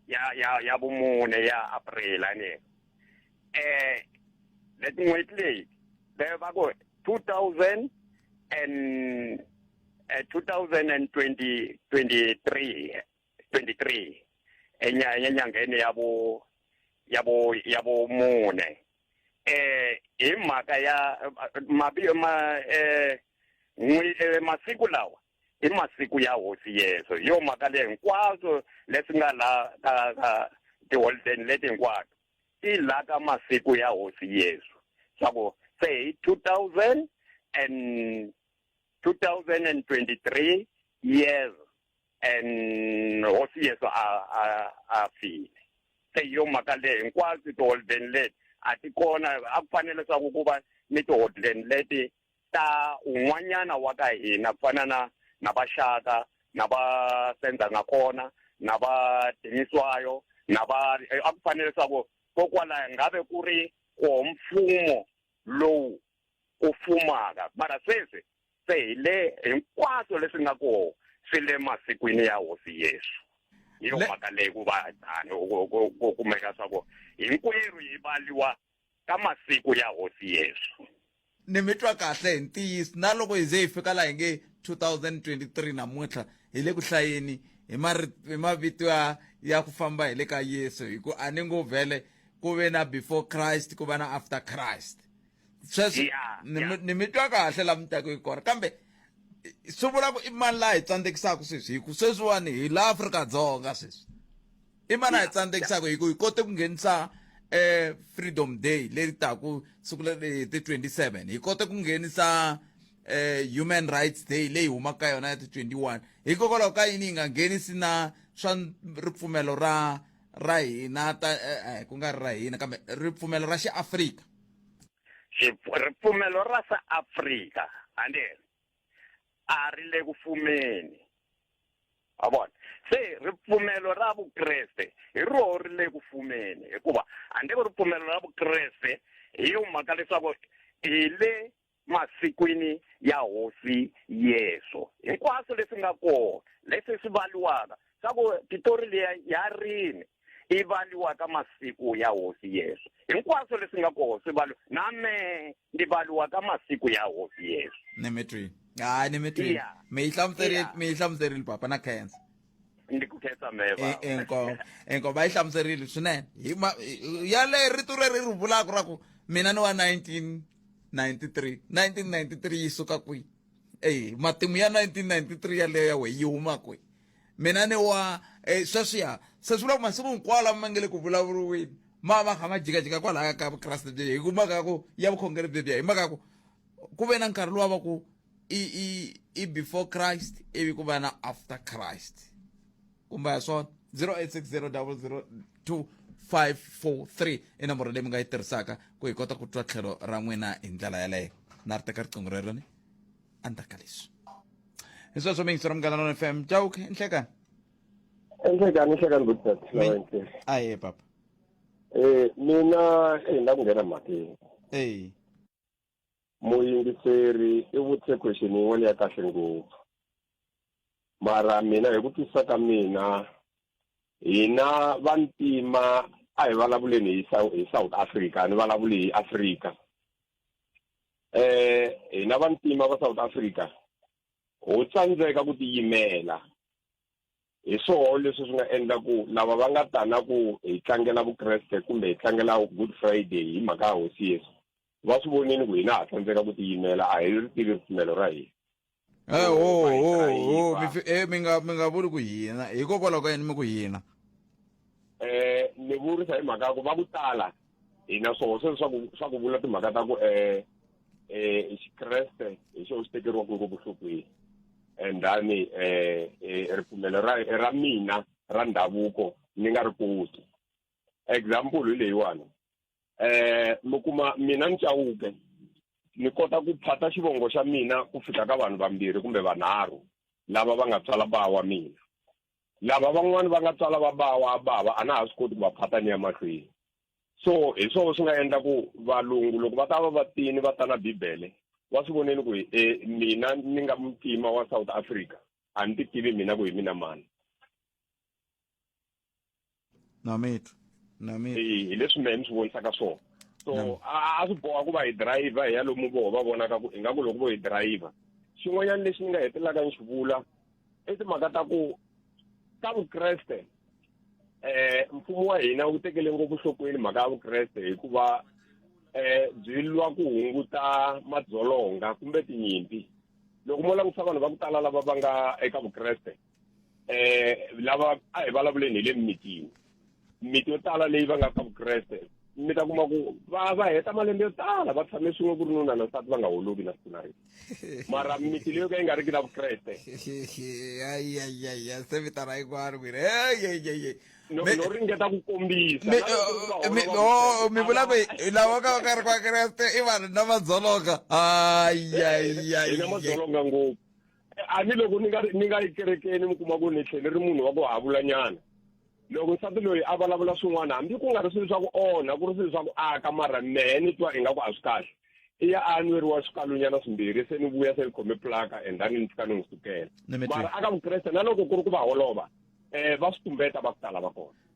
ya ya ya vumune ya april a ni eh leti n'hweti leyi le va ku two thousand and eh, two thousand and twenty twenty three twenty three enyangheni ya vu ya vu ya vumune eh hi mhaka ya mabiyo ma eh, eh masiku lawa i masiku ya hosi yeso hi yo mhaka leyi hinkwaswo leswi nga laha ka ka tiholideni leti hinkwato ti laha ka masiku ya hosi yeso swa ku se hi two thousand and two thousand and twenty three years and hosi yeso a a a file se hi yo mhaka leyi hinkwaswo tiholideni leti a ti kona a ku fanele leswaku ku va ni tiholideni leti ta un'wanyana wa ka hina ku fana na na vaxaka na va senza nga kona na va tiniswayo na va eh, a ku fanele leswaku kokwalaho ngabe ku ri ko mfumo lowu ku fumaka mara sweswi se hi le hinkwaswo leswi nga koho swi le masikwini ya hosi yesu hi yo mhaka leyi ku va tani ku kumeka swa ku hinkwerhu hi valiwa ka masiku ya hosi yesu ni mi twa kahle hi ntiyiso na loko hi ze hi fika laha hi nge 2023 namuntlha hi le ku hlayeni hi mari- hi mavito ya ya ku famba hi le ka yesu hi ku a ni ngo vhele ku ve na before christ ku va na after christ sweswo Yeah, ni mi- yeah. ni mi twa kahle la mi taku hi kona kambe i- swi vula ku i mani laha hi tsandzekisaka sweswi hi ku sweswiwani hi la afrika dzonga sweswi i mani a hi tsandzekisaka hi ku hi kote ku nghenisa um freedom day leri taku siku leri hi ti 27 hi kote ku nghenisa um human rights day leyi humaka ka yona ya ti 21 hikokwalaho ka yini yi nga nghenisi na swa ripfumelo ra ra hina ta eh, eh, ku nga ri ra hina kambe ripfumelo ra xiafrika ripfumelo ra sa afrika andeni a ri le ku fumeni a vona se ripfumelo ra vukreste hi roho ri le ku fumeni hikuva handle ko ripfumelo ra vukreste hi yo mhaka leswaku hi le masikwini ya hosi yesu hinkwaswo leswi nga kona leswi swi valiwaka swa ku titori leya ya rini i valiwa ka masiku ya hosi yesu hinkwaswo leswi nga koho swi valiwa na me ndi valiwa ka masiku ya hosi yesu ni mi twini hayi ni mi twini Yeah. mi yi hlamuserile Yeah. mi yi hlamuserile papa na khensa ndi ku khensa me baba. enkomo enkomo va yi hlamuserile swinene hi ma hi- yaleyo rito reri ri vulaka ra ku mina ni wa 1993 1993 yi suka kwihi eyi matimu ya 1993 yaleyo ya we yi huma kwihi mina ni wa eh, sweswiya se swi vula ku masiku hinkwawo lama ma nge le ku vulavuriweni ma va kha ma jikajika kwalaya ka vukreste byi hi ku mhaka ya ku ya vukhongeri byebyiya hi mhaka ya ku ku ve na nkarhi lowu va ku i i i before christ ivi ku va na after christ kumbe ya swona 0860002543 i nomboro leyi mi nga yi tirhisaka ku hi kota ku twa tlhelo ra n'wina hi ndlela yaleyo na ri teka riqingho reroni endzhaku ka leswi hi sweswo mi yingisela munghana lona fm jawuke inhlekani inhlekani inhlekani good dad aye papa eh mina eh la ku nghena mhakeni eh muyingiseri i vutise question yin'wana ya kahle ngopfu mara mina hi ku twisisa ka mina hina vantima a hi vulavuleni hi south africa ni vulavuli hi africa eh hina vantima va South Africa ho tsandzeka ku tiyimela hi swoho leswi swi nga endla ku lava va nga tana ku hi tlangela vukreste kumbe hi tlangela good friday hi mhaka ya hosi yesu va swi vonini ku hina ha tsandzeka ku tiyimela a hi ri tivi ripfumelo ra hina Eh, oh, Hikuva hi oh, kha hi oh, va- mi fi- eh, mi nga mi nga vuli ku hina hikokwalaho ka yini mi ku hina eh ni vurisa hi mhaka ya ku va ku tala hina swo se swa ku swa ku vula timhaka ta ku eh eh xikreste hi xo xi tekeriwaka ngopfu nhlokweni and then eh eh, ripfumelo ra ra mina ra ndhavuko ni nga ri koti example hi leyiwani eh mi kuma mina ni chawuke ni kota ku phata xivongo xa mina ku fika ka vanhu vambirhi kumbe vanharhu lava va nga tswala ba wa mina lava van'wani va nga tswala va ba wa bava a na ha swi koti ku va phata ni ya mahlweni so hi swona swi nga endla ku valungu loko va ta va va tini va ta na bibele va swi voneni ku e mina ni nga muntima wa south africa a ni ti tivi mina ku hi mina mani na mitu na mitu hi leswi mehe ni swi vonisaka swona so a swi boha ku va hi dirayivha hi ya lomu voho va vonaka ku ingaku loko vo hi dirayivha xin'wanyana lexi ni nga hetelelaka ni xi vula i timhaka ta ku ka vukreste um mfumo wa hina wu tekele ngopfu nhlokweni mhaka ya vukreste hikuva um byi lwa ku hunguta madzolonga kumbe tinyimpi loko mo langutisa vanhu va ku tala lava va nga eka vukreste eh lava a hi vulavuleni hi le mimitini mimiti yo tala leyi va nga ka vukreste mi ta kuma ku va va heta malembe yo tala va tshame swin'we ku ri nuna na nsati va nga holovi na siku na ri mara mimiti leyo ka yi nga ri ki na vukreste ayayaya se vitana hinkwaro ku ri eyeyeye no no ringeta ku kombisa na loko ku va holova mi vukreste, vula ku hi- lava ka va ka ri kwakreste i vanhu na madzolonga hina madzolonga ngopfu a ni loko ni nga ni nga ikerekeni mi kuma ku ni tlhele ri munhu wa ku havula nyana loko nsati loyi a vulavula swin'wana hambi ku nga ri swilo swa ku onha ku ri swilo swa ku aka mara mehe ni twa ingaku a swi kahle i ya a nweriwa swikalunyana swimbirhi se ni vuya se ni khome plaka and then ni fika ni n'wi sukela mara aka vukreste na loko ku ri ku va holova um va swi tumbeta va ku tala va kona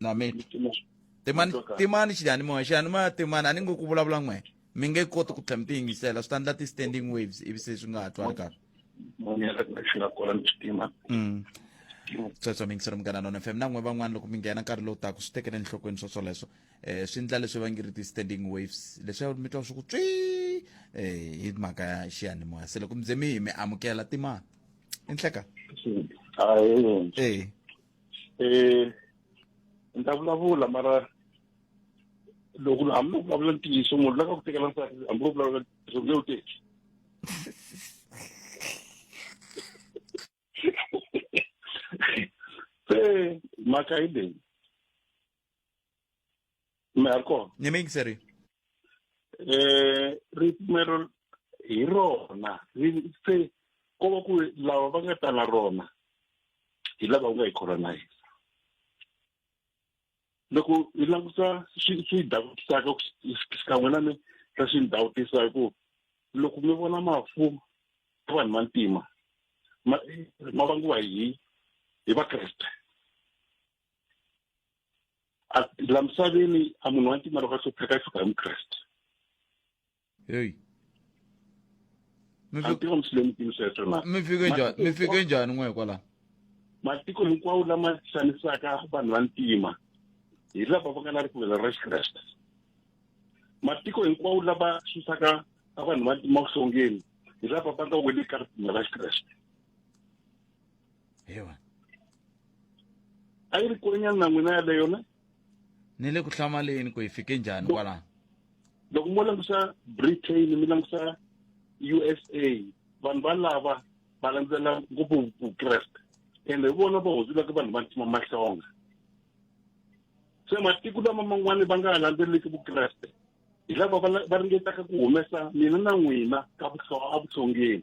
nami timani timani xiyanimoya xiyanimoya timani a ni ngo ku vulavula n'we mi nge koti ku tlhela mi tiyingisela swi ta endla ti-standing waves ivi se swi nga ha twali kahle sweswo mi yingisela munghana nona fm na n'we van'wana loko mi nghena nkarhi lowu taku swi tekele enhlokweni swo swoleswo um swi endla leswi va ngi ri ti-standing waves leswi mi twa swi ku tswi um hi mhaka ya xiyanimoya se loko mi ze mi hi mi amukela timani i nhleka e eh ni ta vulavula mara loko hambi u vulavula ntiyiso munhu la ka ku tekela nsati hambi u vulavula ntiyiso nge u teki se mhaka yi leyi marko ni mingi seri eh ripfumelo hi rona ri- se ko va ku lava va nga ta na rona hi lava u nga yi colonize loko hi languta swi swi davutisaka xikan'we na mi ra swi ni dawutisa hi ku loko mi vona mafu ya vanhu va ntima ma ma vangiwa hi hi vakreste la misaveni a munhu wa ntima loko a hlupheka i fika hi mukreste heyi a tiva muslemutini sweswo na mi fike njhani mi fike njhani n'we hikwalaho matiko hinkwawo lama xanisaka vanhu va ntima hi lava va nga na ripfumelo ra xikreste matiko hinkwawo lava susaka a vanhu va ntima vuhlongeni hi lava va nga weli ka ripfumelo ra xikreste ewa a yi ri kwenyani na n'wina yaleyo ne ni le ku hlamaleni ku hi fike njhani kwalaho loko mo langusa britain mi langusa usa vanhu valava va landzela ngopfu vukreste ende hi vona va hundzulaka vanhu va ntima mahlonga se matiko lama man'wani va nga ha landzeleleki vukreste hi lava va la- va ringetaka ku humesa mina na n'wina ka vuhlo- evuhlongeni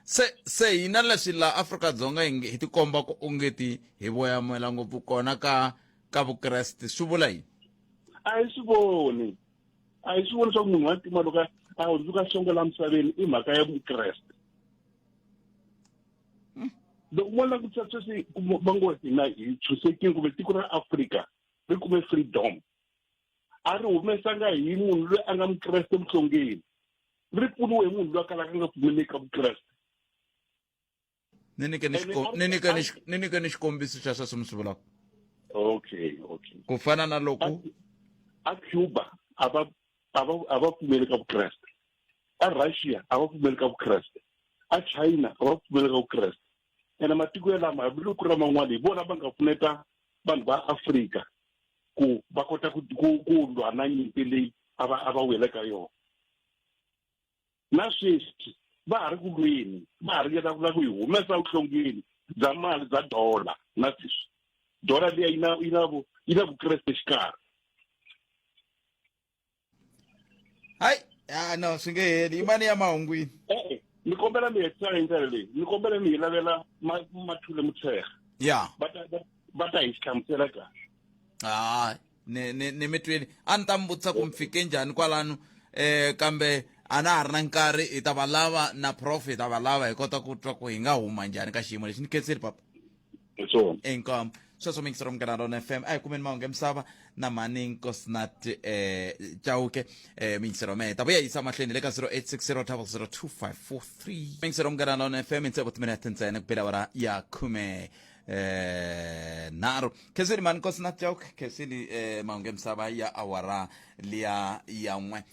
se se hina leswi laha afrika-dzonga hi nge- hi tikomba ku ongeti hi voyamela ngopfu kona ka ka vukreste swi vula yini a hi swi voni a hi swi voni swa ku munhu wa ntima loko a- a hundzuka songo la misaveni i mhaka ya vukreste loko mo langutisa sweswi ku- va ngo hina hi chusekile kumbe tiko ra afrika ri kume freedom a ri humesanga hi munhu loyi a nga mukreste muhlongeni ri pfuniwe hi munhu loyi a kalaka nga pfumeli eka vukreste ni nyike ni xiko- ni nyike ni xi- ni nyike ni xikombiso xa sweswo mi swi vulaka okay okay ku fana na loko a cuba a va a va a va pfumeli ka vukreste a russia a va pfumeli ka vukreste a china a va pfumeli ka vukreste ene matiko yalama hambiloko ku ri man'wana hi vona va nga pfuneta vanhu va afrika ku va kota ku ku ku lwa na nyimpi leyi a va a va wele ka yona na sweswi va ha ri ku lweni va ha ringeta ku la ku yi humesa vuhlongeni bya mali bya dola na sweswi dola liya yi na yi na vu yi na vukreste xikarhi hayi ah no swi nge heli i mani ya mahungwini e-e ni kombela mi hetisa hi ndlela leyi ni kombela mi hi lavela ma- mathule mutshega ya va ta va- va ta hi xi hlamusela kahle hayi ni ni ni mi twini a ni ta mi vutisa ku mi fike njhani kwalano eh kambe a na ha ri na nkarhi hi ta va lava na prof hi ta va lava hi kota ku twa ku hi nga huma njhani ka xiyimo lexi ni khenseli papa swona inkomo sweswo mi ngisero munghana rona fm a hi kumeni mahungu emisava na mhani nkosnat eh chauke eh mi ngisero meta vuya yisa mahlweni le ka 0860002543 mi ngisero munghana rona fm i ntsevu timinete ntsena ku bela wara ya khume eh nharhu khesini mhani nkosnat chauke khesini eh mahungu emisava ya awara liya ya n'we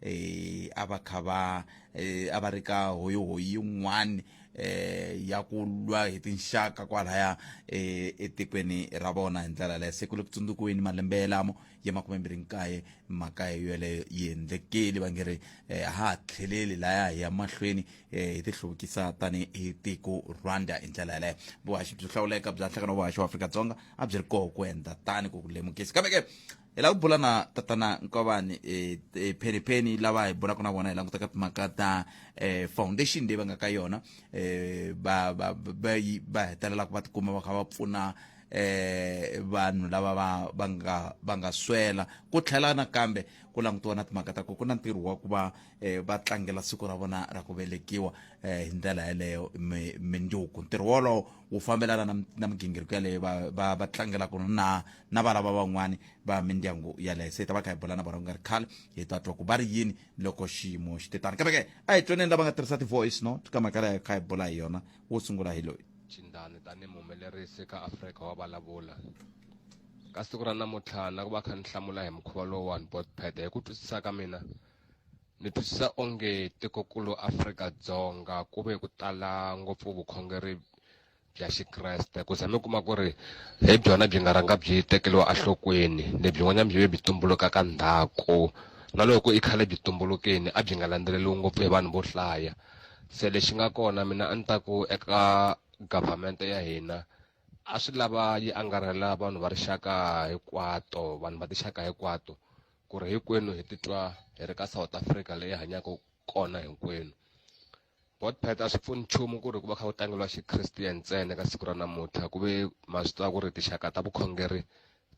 eh a va kha va eh, a va ri ka hoyohoyi yin'wani eh ya ku lwa hi tinxaka kwalaya eh, etikweni ra vona hi ndlela leyo se ku le ku tsundzukiweni malembe yelamo ya makume mbirhi nkaye mhaka yeleyo yi endlekeli va nge ri eh, ha ha tlheleli laya hi ya mahlweni eh, hi tihluvukisa tani hi tiko rwanda hi ndlela yeleyo vuhaxi byo hlawuleka bya nhlangano wa vuhaxi wa afrika-dzonga a byi ri koho ku endla tani ku ku lemukisa kambe ke hi lava ku bula na tatana nkovani eh, eh, phenipeni lava hi bulaka na vona hi languta ka timhaka ta eh, foundation leyi va nga ka yona eh, ba ba ba yi- ba hetelelaka va tikuma va kha va pfuna eh vanhu lava va va nga va nga swela ku tlhela nakambe ku langutiwa na timhaka ta ku ku na ntirho wa ku va eh, va tlangela siku ra vona ra ku velekiwa eh, hi ndlela yeleyo mi- mindzuku ntirho wolowo wu fambelana na mi- na migingiriko yaleyo va va va tlangelaka na na va lava van'wani va mindyangu yaleyo se hi ta va kha hi bula na vona ku nga ri khale hi ta twa ku va ri yini loko xiyimo xi te tani kambe ke a hi twaneni lava nga tirhisa ti-voice note ka mhaka leyo kha hi bula hi yona wo sungula hi loyi chindani tanihi muhumelerisi ka afrika wa vulavula ka siku ra namuntlha na ku va kha ni hlamula hi mukhuva lowuwani botpad hi ku twisisa ka mina ni twisisa onge tikokulu afrika-dzonga ku ve ku tala ngopfu vukhongeri bya xikreste ku za mi kuma ku ri hi byona byi nga rhanga byi tekeriwa enhlokweni lebyin'wanyana byi ve byi tumbuluka ka ndhaku na loko i khale byi tumbulukeni a byi nga landzeleriwi ngopfu hi vanhu vo hlaya se lexi nga kona mina a ni ta ku eka government ya hina a swi lava yi angarhela vanhu va rixaka hinkwato vanhu va tixaka hinkwato ku ri hinkwenu hi titwa hi ri ka south africa leyi hanyaka kona hinkwenu botpet a swi pfuni nchumu ku ri ku va kha ku tlangeliwa xikristiyeni ntsena ka siku ra namuntlha ku ve ma swi tiva ku ri tixaka ta vukhongeri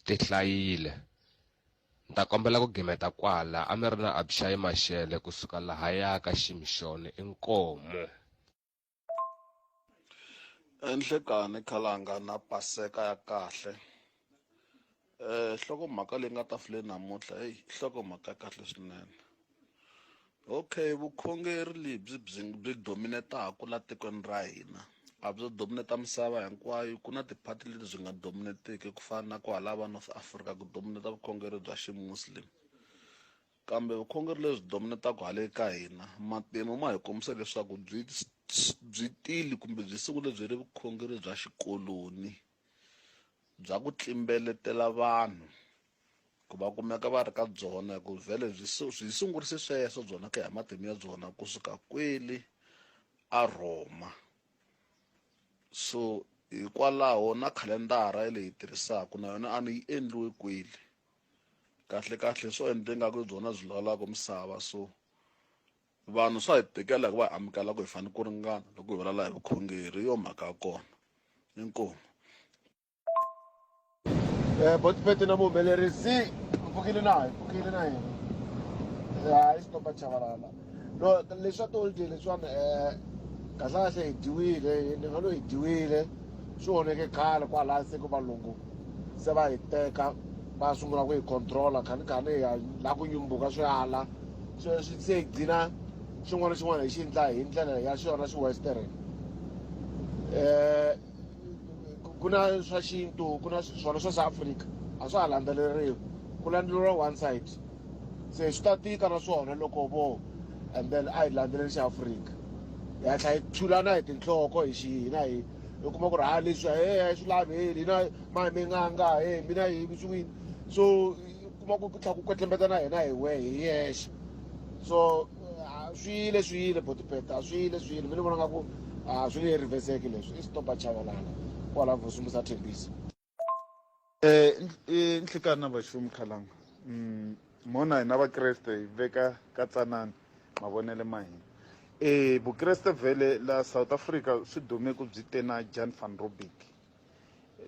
ti hlayile ni ta kombela ku gimeta kwala a mi ri na abishayi maxele kusuka lahaya ka ximixoni inkomo enhlekani khalanga na paseka ya kahle Eh, nhlokomhaka leyi nga tafuleni namuntlha heyi nhlokomhaka ya kahle swinene okay vukhongeri lebyi byi byi dominetaku la tikweni ra hina a byo domineta misava hinkwayo ku na tiphati leti byi nga dominetiki ku fana na kwahala va north africa ku domineta vukhongeri bya ximuslim kambe vukhongeri lebyi dominetaka hale ka hina matimu ma hi kombisa leswaku byi byi tili kumbe byi sungule byi ri vukhongeri bya xikoloni bya ku tlimbeletela vanhu ku va kumeka va ri ka byona hi ku vhele byi byi sungurise sweswo byona ku ya matimu ya byona kusuka kweli a Rhoma so hikwalaho na khalendara ya leyi tirhisaka na yona a ni yi endliwe kweli kahle kahle swo endle nga ku byona byi lawulaka misava so vanhu swa hi tikela hi ku va hi amukela ku hi fanele ku ringana loko hi vulavula hi vukhongeri yo mhaka ya kona inkomu um eh, botipete na muhumelerisi pfukile na hi pfukile na yena hayi eh, xitopa chavalala no leswa toldi leswiwani um eh, kahlekahle hi dyiwile ni nga lo hi dyiwile swi oneke khale kwalaya se ku valungu se va hi teka va sungula ku hi controla khanikhani hi laha ku nyumbuka swi ala swi swi se gcina xin'wana na xin'wana hi xi endla hi ndlela ya xona xi western eh ku na swa xintu ku na swona swa South Africa a swa ha landzeleriwi ku landzeleriwa one side se swi ta tika na swona loko vo and then a hi landzeleli xa Africa hi hatla hi thulana hi tinhloko hi xi hina hi hi kuma ku ri ha leswi he a swi lavi hina ma mi nga nga he mina hi swi so kuma ku ku tlha ku kwetlembeta na hina hi we hi yexe so ah, swi yile swi yile botipeta a swi yile swi yile mi ni vona nga ku a ah, swi nge riveseki leswi i stop achavalana kwala vusumbu sa thembisa eh, eh nhlikani na vaxumi khalanga mm, mona hina vakreste hi veka ka tsanani mavonele ma hina e vukreste vhele la south africa swi dume ku byi te na jan van robic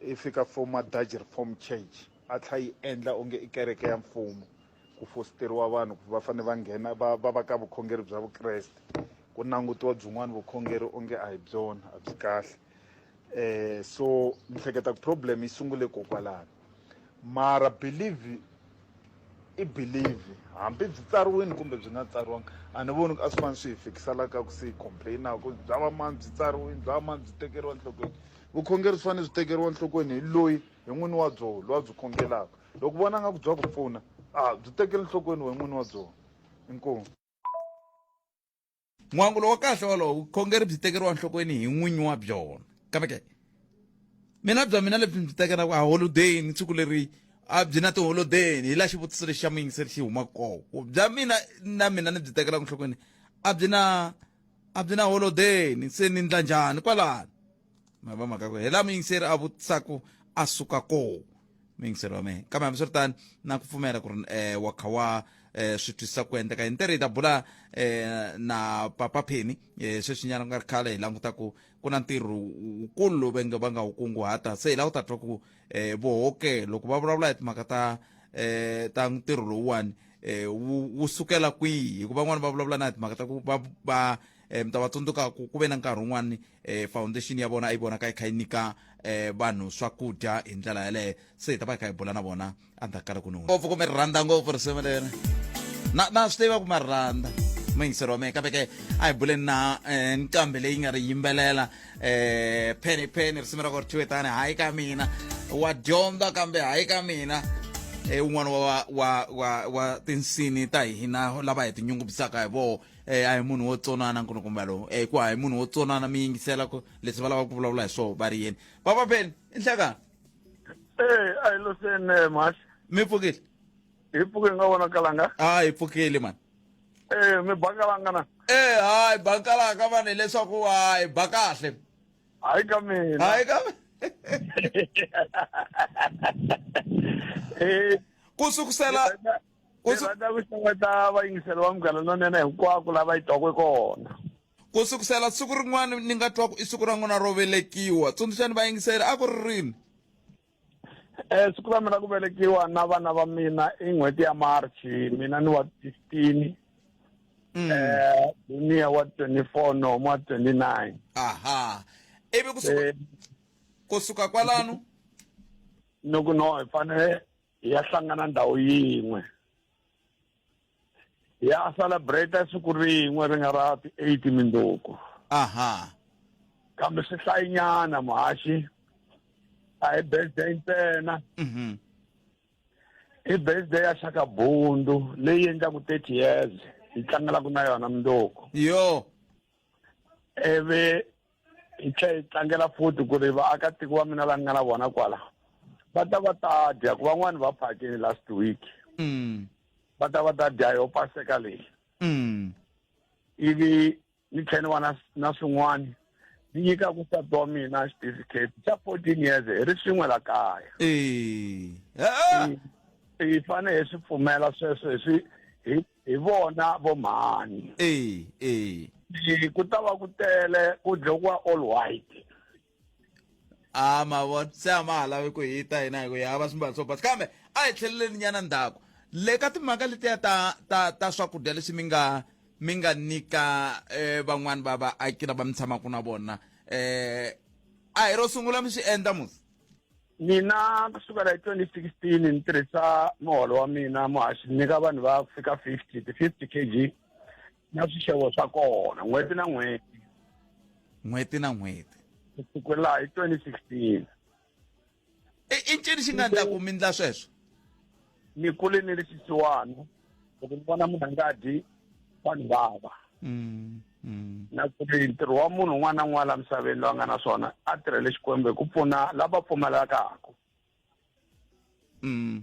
i fika foma Dutch Reformed Church a tlha yi endla onge i kereke ya mfumo ku fositeriwa vanhu ku va fane va nghena va va va ka vukhongeri bya vukreste ku langutiwa byin'wana vukhongeri onge a hi byona a byi kahle um so ni hleketa ku problem yi sungule kokwalano mara believe i believe hambi byi tsariwini kumbe byi nga tsariwangi a ni voni ku a swi fanele swi hi fikisa la ka ku se hi complain-a ku bya va mani byi tsariwini bya va mani byi tekeriwa enhlokweni vukhongeri byi fanele byi tekeriwa enhlokweni hi loyi hi n'wini wa byoho loyi a byi khongelaka loko u vona nga ku bya ku pfuna a byi tekeli enhlokweni wena n'wini wa byona inkomu. n'wangu lowo kahle wolowo vukhongeri byi tekeriwa nhlokweni hi n'winyi wa byona kambe ke mina bya mina lebyi byi tekelaka aholodeyini siku leri a byi na tiholodeyini hi la xivutiso lexi xa muyingiseri xi humaka koko bya mina na mina ni byi tekelaka nhlokweni a byi na a byi na holodeyini se ni ndla njhani kwalano ma va mhaka ku hi la muyingiseri a vutisaku a suka koho muyingiseri wa mehe kambe hambiswiritani na ku pfumela ku ri um wa kha wa um swi twisisa ku endleka hi ntirho hi ta bula um na papa pheni um sweswinyana ku nga ri khale hi languta ku ku na ntirho wukulu lowu venge va nga wu kunguhata se hi lava ku ta twa ku um vohoke loko va vulavula hi timhaka ta um ta ntirho lowuwani um wu sukela kwihi hikuva van'wani va vulavula na hi timhaka ta ku va va um mi ta va tsundzuka ku ku ve na nkarhi wun'wani eh, foundation ya vona a yi vonaka yi kha yi nyika eh, vanhu swakudya hi ndlela yaleyo se hi ta va hi kha hi bula na vona endzhaku ka loko ni ngopfu kumbe ri rhandza ngopfu risimu leri na na swi tiva ku ma ri rhandza muyingiseri wa mina kambe ke a hi buleni na eh, nqambi leyi nga ri yimbelela eh, pheni pheni risimu ra ku ri thiwe tani hayi ka mina wa dyondza kambe hayi ka mina eh, un'wana wa wa wa wa tinsini ta hina lava hi tinyungubyisaka hi vona eh a hi munhu wo tsonana nkunu kumbe lowu eh ku a hi munhu wo tsonana mi yingisela ku leswi va lavaka ku vulavula hi swona va ri yini papa ben i nhlakani ee a hi loseni eh, mhasi mi pfukile hi pfuke nga vonakalanga a hi pfukile mani ee mi bakalanga na ee hayi bakalanga mani hileswaku hayi ba kahle hayi ka mina hayi ka mina ku sukusela U Ndzi su- rhandza ku xeweta vayingiseri va Munghana Lonene hinkwako la va yi twaka kona. ku sukusela siku rin'wana ni nga twa ku i siku ra n'wina ro velekiwa tsundzuxani vayingiseri a ku ri rini Eh siku ra mina ku velekiwa na vana va mina i n'hweti ya March, mina ni wa 15, Mm. eh Dunia wa 24, Nomo wa 29. aha ivi kusuka, Eh kusuka kwalano no ku no hi fanele hi ya hlangana ndhawu yin'we hi ya celebrate siku rin'we ri nga ra ti-eight mindzuku aha kambe swi hlayinyana muhaxi a hi birthday ntsena mhm i birthday ya xaka bundu leyi endlaku thirty years hi tlangelaku na yona mundzuku yo ivi hi tlhe hi tlangela futhi ku ri vaakatiko va mina la ni nga na vona kwala va ta va ta dya ku van'wani va phakini last week mm. va ta va ta dya yo paseka leyi mm. ivi ni tlhe ni va na na swin'wani ni nyika ku sati wa mina xitifiketi xa fourteen years hi ri swin'we la kaya hi fanele hi swi pfumela sweswo hi swi hi hi vona vo mhani e e Hi- ku ta va ku tele ku dlokiwa all white a mavona se a ma ha lavi ku hita hina hi ku hi hava swimbalo swo basa kambe a hi tlheleleni nyana ndzhaku le ka timhaka letiya ta ta ta swakudya leswi mi nga mi nga nyika eh, van'wani va vaaki lava mi tshamaka na vona eh a hi ro sungula mi swi endla musi Mina ku sukela hi 2016 ni tirhisa muholo wa mina muhaxi ni nyika vanhu va ku fika 50 ti-50 kg na swixevo swa kona n'hweti na n'hweti n'hweti na n'hweti ku sukela hi 2016 i i ncini xi nga ndla ku mi ndla sweswo ni kule ni ri xisiwana loko ni vona munhu a nga dyi wa ni vava mm, mm. na ku ri ntirho wa munhu un'wana na un'wana la misaveni loyi a nga na swona a tirhele xikwembu hi ku pfuna lava pfumalakaku mm,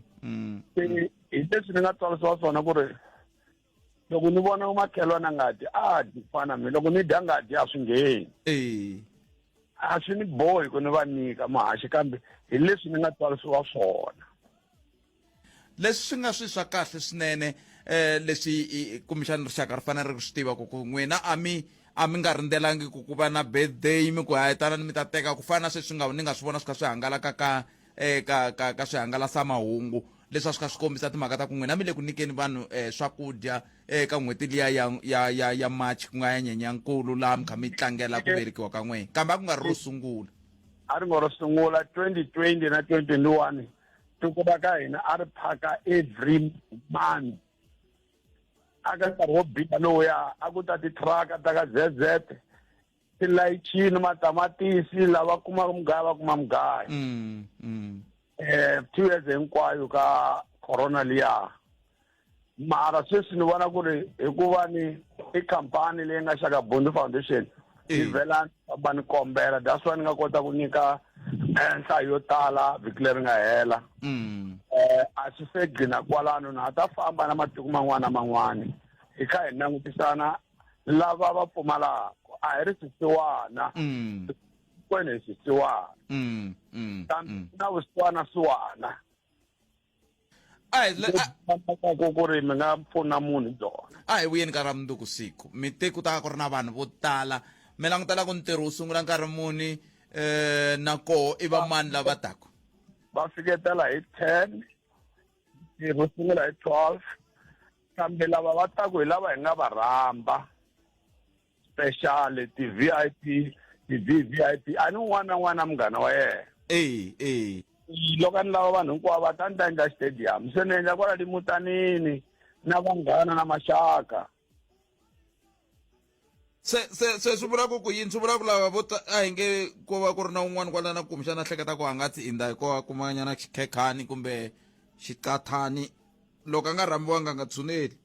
se hi leswi ni nga tswarisiwa swona ku ri loko ni vona umakhelwana ngati a dyi ku fana mina loko ni dya ngati a swi ngheni eh. a swi ni bohi ku ni va nyika mahaxi kambe hi leswi ni nga tswarisiwa swona leswi swi nga swi swa kahle swinene eh leswi kumbexana rixaka ri fanele ri swi tiva ku ku n'wina a mi a mi nga rindzelangi ku ku va na birthday mi ku hayetanani mi ta teka ku fana na sweswi nga ni nga swi vona swi kha swi hangalaka ka eh, ka, ka, ka swihangalasamahungu leswi a swi kha swi kombisa timhaka ta ku n'wina mi le ku nyikeni vanhu eh, swakudya eh, ka n'hweti liya ya, ya, ya, ya march ku nga ya nyenyankulu laha mi kha mi tlangela ku velekiwa ka n'wina kambe a ku nga ri ro sungula a ri ngo ro sungula 2020 na 2021 tiko ra ka hina a ri phaka every month aka nkarhi wo biha lowuya a ku ta titraka ta ka zz tilayichini matamatisi lava kumaka mugayo va kuma mugayo mm, mm. eh two years hinkwayo ka corona liya mara sweswi ni vona ku ri hikuva ni i khampani leyi nga xaka bondi foundation ni vela va ni kombela that's why ni nga kota ku nyika eh, nhlayo yo tala vhiki leri nga hela mm. eh, a swi se gcina kwalano na ha ta famba na matiko man'wana na man'wana hi kha hi langutisana lava va pfumalaka a hi ri swisiwana mm. kwene hi swisiwana mm, mm, kambe mm. na vusiwana siwana ku ku ri mi nga pfuna munhu hi byona a hi vuyeni ka ra mundzuku siku mi te ku ta ku ri na vanhu vo tala mi langutela ku ntirho wu sungula nkarhi muni eh na koho i va mani lava taku va fiketela hi ten ntirho wu sungula hi twelve kambe lava va taku hi lava hi nga va rhamba special ti-v i p ti-v v i p a ni un'wana na un'wana na munghana wa yena eyi eyi loko a ni lava vanhu hinkwavo va ta ni ta endla stadium se ni endla kwala limutanini na vanghana na maxaka se se se swi vula ku ku yini swi vula ku lava vo ta- a hi nge ko va ku ri na un'wana kwalana kumbexana a hleketa ku a nga tsinda hi ko a kumanyana xikhekhani kumbe xiqathani loko a nga rhambiwanga a nga tshuneli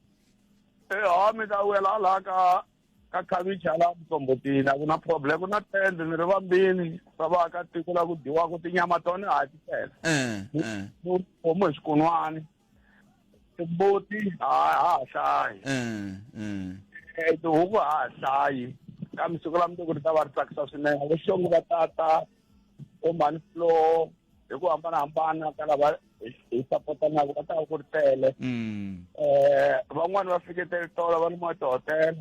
Eh, ha mi ta wela laha ka ka khavichi hala mtsombotini a ku na problem ku na tende ni ri vambini swa vaakatiko la ku dyiwaka tinyama tona ha ti tele eh eh homu hi swikun'wani timbuti ha ha hlayi eh, eh. eh, tihuku ha ha hlayi kambe siku la mundzuku ri ta va ri tsakisa swinene vo xongo va tata vo mhani floor hi ku hambanahambana ka lava hi sapotanaka va ta va ku ri tele um mm. eh, van'wani va fiketele tolo va ni mwa tihotela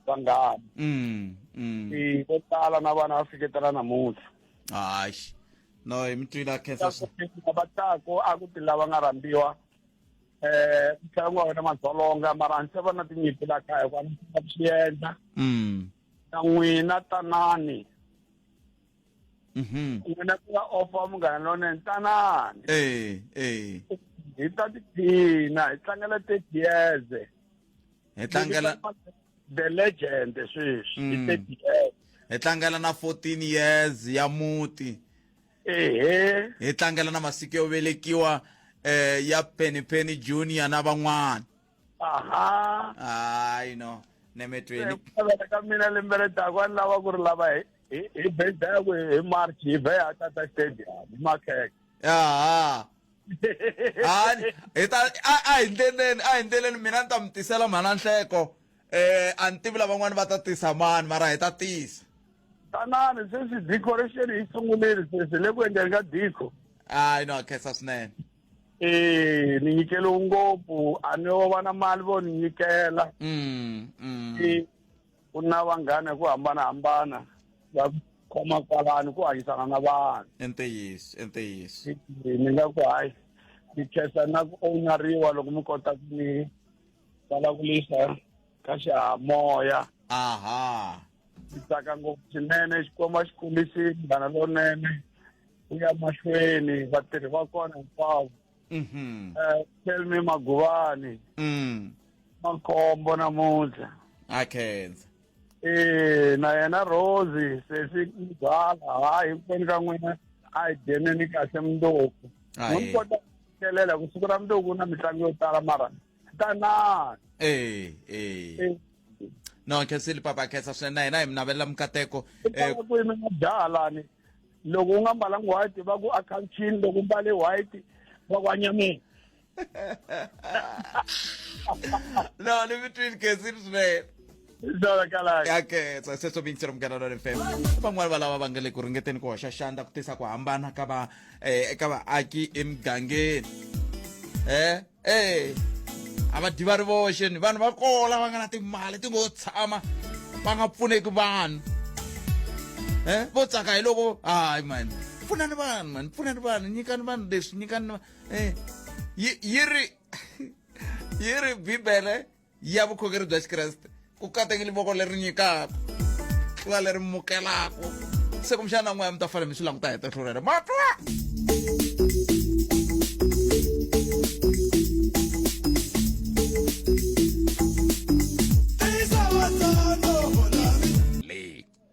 vanghani mm, mm. vo tala na vana va fiketela namuntlha hayi no hi mi twile a khensa va taku a ku ti lava nga rambiwa eh mutlangi wa wena madzolonga mara ni se va na tinyimpi la kaya hikuva ni va swi endla mm. na n'wina tanani mhm. n'wina ku nga ofa munghana lonene tanani hi ta tiphina hi tlangela thirty years hi tlangela the legend sweswi mm. hi tlangela na 14 years ya muti ehe hi tlangela na masiku yo velekiwa eh ya Penny Penny Junior na van'wana aha hayi no nemetweni eh, ka mina lembe le taku a ni lava ku ri lava hi hi birthday yakwe hi march hi vhe a tata stadium hi makheke aha hani hi ta a a hi ndleleni a hi ndleleni mina ni ta mi tisela mhana nhleko eh a ni tivi lavan'wani va ta tisa mani mara hi ta tisa tanani sweswi decoration yi sungulile sweswi le ku endleni ka dico hayi no khensa swinene eh ni nyikele ngopfu a ni yo va na mali vo ni nyikela mm, mm. ku na vanghana hi ku hambanahambana va khoma kwalani ku hanyisana na vanhu i ntiyiso i ntiyiso ni nga ku hayi mi khensa na ku ownariwa loko mi kota ku mi vulavulisa ka xihamoya aha ndzi tsaka ngopfu swinene xikwembu a xi kombisi munghana lonene ku ya mahlweni vatirhi va kona hinkwavo mhm eh tell me maguvani mm makhombo namuntlha akhenza eh na yena Rose sesi mzala hayi kweni ka n'wina a yi deneni kahle mundoko Hayi. n'wi kota ku fikelela ku siku ra mundoko na mitlangu yo tala mara tanani eh eh Eh, no khensile papa khensa swinene na hina hi mi navelela mikateko i eh tala ku yimela jaha lani loko u nga mbalanga white va ku a khanchini loko u mbale white va ku anyameni no ni mi twini khensile swinene dalakalaka ya khetsa sweswo vincero munghana lwa fm van'wani va lava va nga le ku ringeteni ku hoxa xandla ku tisa ku hambana ka va eh, eka vaaki emugangeni eh ee a va dyi va ri voxe ni vanhu va kola va nga na timali ti ngo tshama va nga pfuneki vanhu eh vo tsaka hi loko hayi mani pfunani vanhu mani pfunani vanhu nyikani vanhu leswi nyikani eh yi yi ri yi ri bibele ya vukhongeri bya xikreste ku katekile voko leri nyikaka tlula leri mukelaka se kumbexana n'waya mi ta fanele mi swi languta hi tihlo rero ma twa